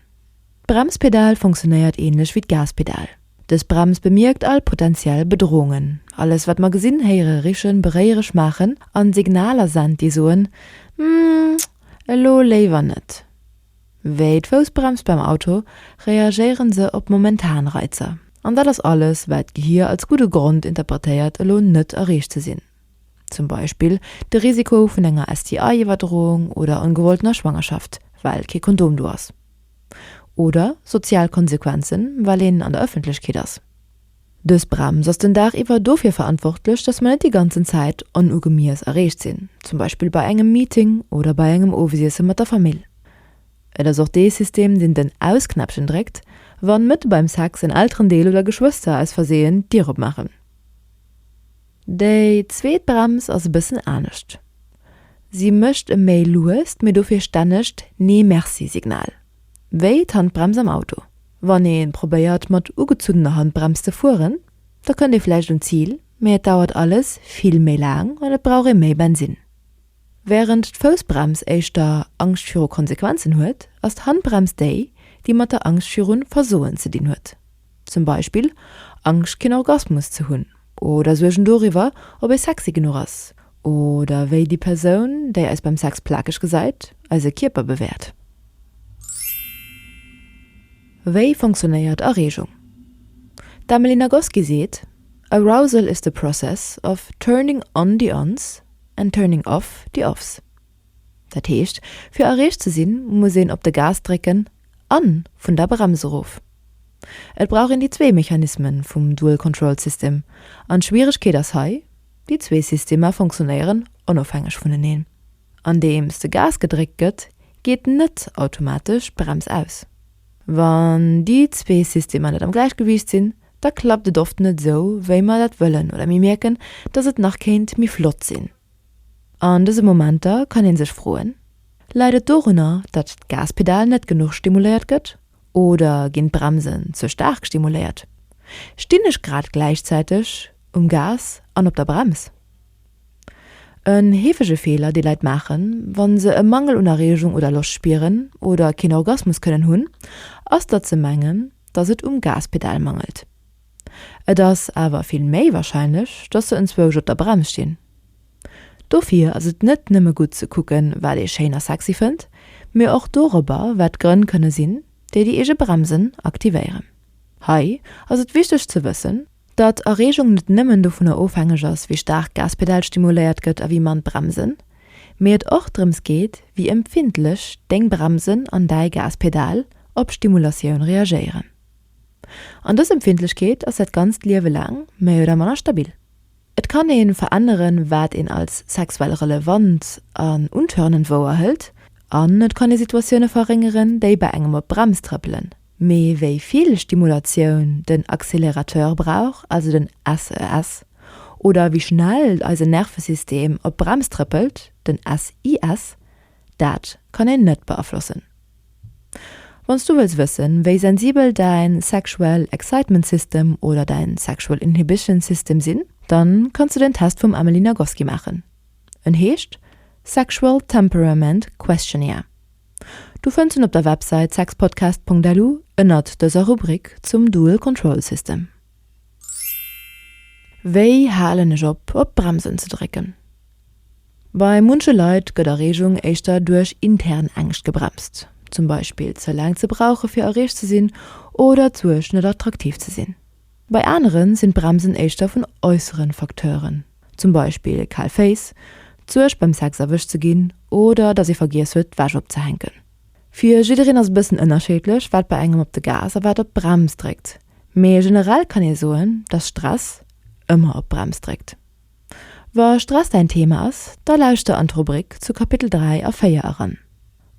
D'Bremspedal funktionéiert ähnlech wéi d'Gaspedal. Dës Brems bemierkt all potentiell Bedrohungen. Alles wat mer gesinn, héiere, richen, beréiere, schmaachen an Signaler sent déi soen, Hm, elo léiwer net. Wéi d'Foussbrems beim Auto, reagéieren se op momentan Reizer. An dat ass alles wat d'Gehir als gudde Grond interpretéiert elo net erreecht ze sinn. zum Beispill de Risiko vun enger STI-Iwwerdroung oder ongewolltener Schwangerschaft, well kee Kondom do ass, oder sozial Konsequenzen, well een an der Ëffentlechkeet ass. Dës Brems ass den Dag iwwer dofir verantwortlech, dass mer net déi ganzen Zäit onugemiess erreecht sinn, zum Beispill bei engem Meeting oder bei engem Owesiesse mat der Famill. Et ass och dee System, deen den Aus-Knäppchen dréckt, wann mëtte beim Sex en Elterendeel oder Geschwëster aus Versehen d'Dier opmaachen. Déi zweet Brems ass e bëssen anescht. Si mécht e méi luest, mee dofir stännegt Nee-Merci-Signal, wéi d'Handbrems am Auto. Wann ee probéiert mat ugezunnener Handbrems ze fueren, da kënnt ee vläicht un d'Zil, mee et dauert alles vill méi laang an et brauch ee méi Bensinn. Wärend d'Foussbrems éischter Angscht viru Konsequenzen huet, ass d'Handbrems déi, déi mat der Angscht virun Versoen ze dinn huet. Zum Beispill Angscht keen Orgasmus ze hunn oder Suergen doriwwer ob ee sexy genuch ass oder wéi déi Persoun déi eis beim Sex plakeg gesäit eise Kierper bewäert. Wéi funktionéiert Erreegung? D'Emily Nagoski seet, Arousal is the process of turning on the ons and turning off the offs. Dat heescht, fir erreecht ze sinn, muss een op de Gas drécken a vun der Brems erof. Et brauch een déi zwee Mechanisme vum Dual Control System, an d'Schwieregkeet ass hei, déi zwee Systemer funktionéieren onofhängeg vuneneen. Andeems de Gas gedréckt gëtt, geet net automatesch d'Brems aus. Wann déi zwee Systemer net am Gläichgewiicht sinn, da klappt et oft net esou, wéi mer dat wëllen oder mir mierken, datt et nach kéint méi flott sinn. An dëse Momenter kann ee sech froen, Läit et dorunner, datt d'Gaspedal net genuch stimuléiert gëtt? Oder ginn d'Bremsen ze staark stimuléiert? Stinn ech grad gläichzäiteg um Gas an op der Brems? En heefege Feeler, dee Leit maachen, wa se e Mangel un Erreegung oder Loscht spieren oder keen Orgasmus kënnen hunn, ass, datt se mengen, datt et um Gaspedal mangelt. Et ass awer vill méi warscheinlech, dass se enzwousch op der Brems stinn. Dofir ass et net nëmme gutt ze kucken, wat ee schéin a sexy fënnt, mee och dorobber, wat d'Grënn kënne sinn, déi déi eege Bremsen aktivéieren. Hei ass et wichteg ze wëssen, datt Erreegung net nëmmen dovunner ofhängeg ass, wéi staark d'Gaspedal stimuléiert gëtt a wéi mann d'Bremsen, mee et och drëms geet, wéi empfindlech deng Bremsen an däi Gaspedal op Stimulatioun reagéieren. An dës Empfindlechkeet ass dat ganzt Liewe laang méi oder manner stabil. Et kann ee veränneren, wat een als sexuell relevant an untörnend wouerhëlt, an et kann ee Situatioune verréngeren, déi bei engem op d'Brems trëppelen. Mee wéi vill Stimulatioun den Accélérateur brauch, also den SES, oder wéi schnell eisen Nervesystem op d'Brems trëppelt, den SIS, dat kann een net beaflossen. Wann s du wëlls wëssen, wéi sensibel däin Sexual Excitement System oder däin Sexual Inhibition System sinn, dann kanns du den Test vum Emily Nagoski maachen. En heescht Sexual Temperament Questionnaire. Du fënns en op der Websäit sexpodcast.lu ënnert dëser Rubrik zum Dual Control System. Wéi halen ech op, op d'Bremsen ze drécken? Bei munche Leit gëtt Erreegung éischter duerch intern Ängscht gebremst, zum Beispill ze laang ze brauche fir erreecht ze sinn oder d'Suerg net attraktiv ze sinn. Bei anere sinn d'Bremsen éischter vun äussere Facteuren, zum Beispill kal Féiss, d'Suerg beim Sex erwëscht ze ginn oder datt ee vergiess huet d'Wäsch opzehänken. Fir jiddereen ass e bëssen ënnerscheedlech wat bei engem op de Gas a wat op d'Brems dréckt, mee generell kann ee soen, datt Stress ëmmer op d'Brems dréckt. Wa Stress däin Thema ass, da lauschter an d'Rubrik zu Kapitel 3 a 4 eran.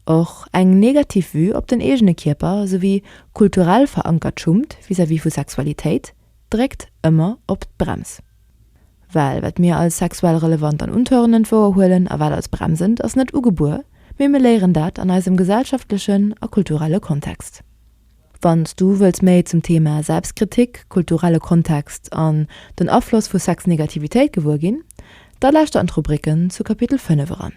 Och eng negativ Vue op den eegene Kierper souwéi kulturell verankert Schummt vis-à-vis vu Sexualitéit dréckt ëmmer op d'Brems. Well wat mir als sexuell relevant an untörnend wouerhuelen a wat als bremsend, ass net ugebuer, mee mir léieren dat an eisem gesellschaftlechen a kulturelle Kontext. Wann s du wëlls méi zum Thema Selbstkritik, kulturelle Kontext an den Afloss vu Sexnegativitéit gewuer ginn, da lauschter an d'Rubriken zu Kapitel 5 eran.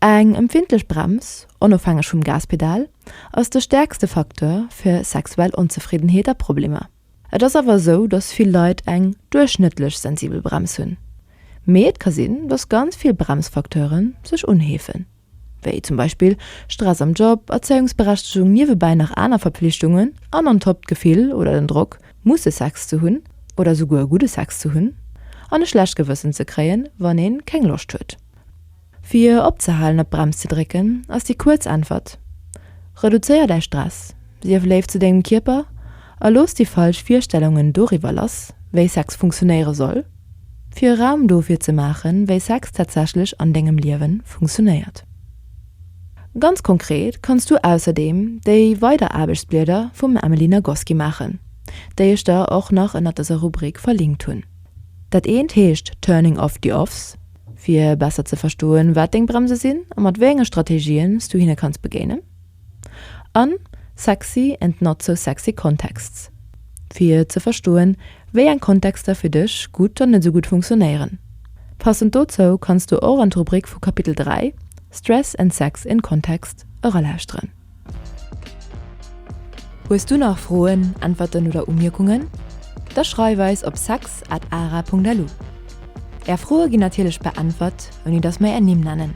Eng empfindlech Brems, onofhängeg vum Gaspedal, ass de stäerkste Facteur fir sexuell Onzefriddenheet a Problemer. Et ass awer esou, dass vill Leit eng duerchschnëttlech sensibel Brems hunn. Mee et ka sinn, dass ganz vill Bremsfacteure sech unheefen. wéi zum Beispill Stress am Job, Erzéiungsberechtegung, niewebäi nach aner Verpflichtungen an on top d'Gefill oder den Drock, musse Sex ze hunn oder souguer gudde Sex ze hunn an e schlecht Gewëssen ze kréien, wann ee keng Loscht huet. Fir opzehalen op d'Brems ze drécken, ass déi kuerz Äntwert, Reduzéier däi Stress, sief léif zu dengem Kierper a looss déi falsch Virstellungen doriwwer lass, wéi Sex funktionéiere soll. Fir e Raum dofir ze maachen, wéi Sex tatsächlech an dengem Liewen funktionéiert. Ganz konkret kanns du ausserdeem déi weider Aarbechtsblieder vum Emily Nagoski maachen, déi ech der och nach ënnert dëser Rubrik verlinkt hunn. Dat eent heescht Turning off the offs, fir besser ze verstoen, wat deng Bremse sinn a mat wéi enge Strategien s du hinne kanns begéinen. an Sexy and not so sexy contexts, fir ze verstoen, wéi eng Kontexter fir dech gutt an net esou gutt funktionéieren. Passend dozou kanns du och an d'Rubrik vu Kapitel 3, Stress and sex in context, eralauschteren. Hues du nach Froen, Äntwerten oder Umierkungen? Da schreif eis op sex at ara punkt lu. Är Froe ginn natierlech beäntwert, ouni datt mer är Nimm nennen.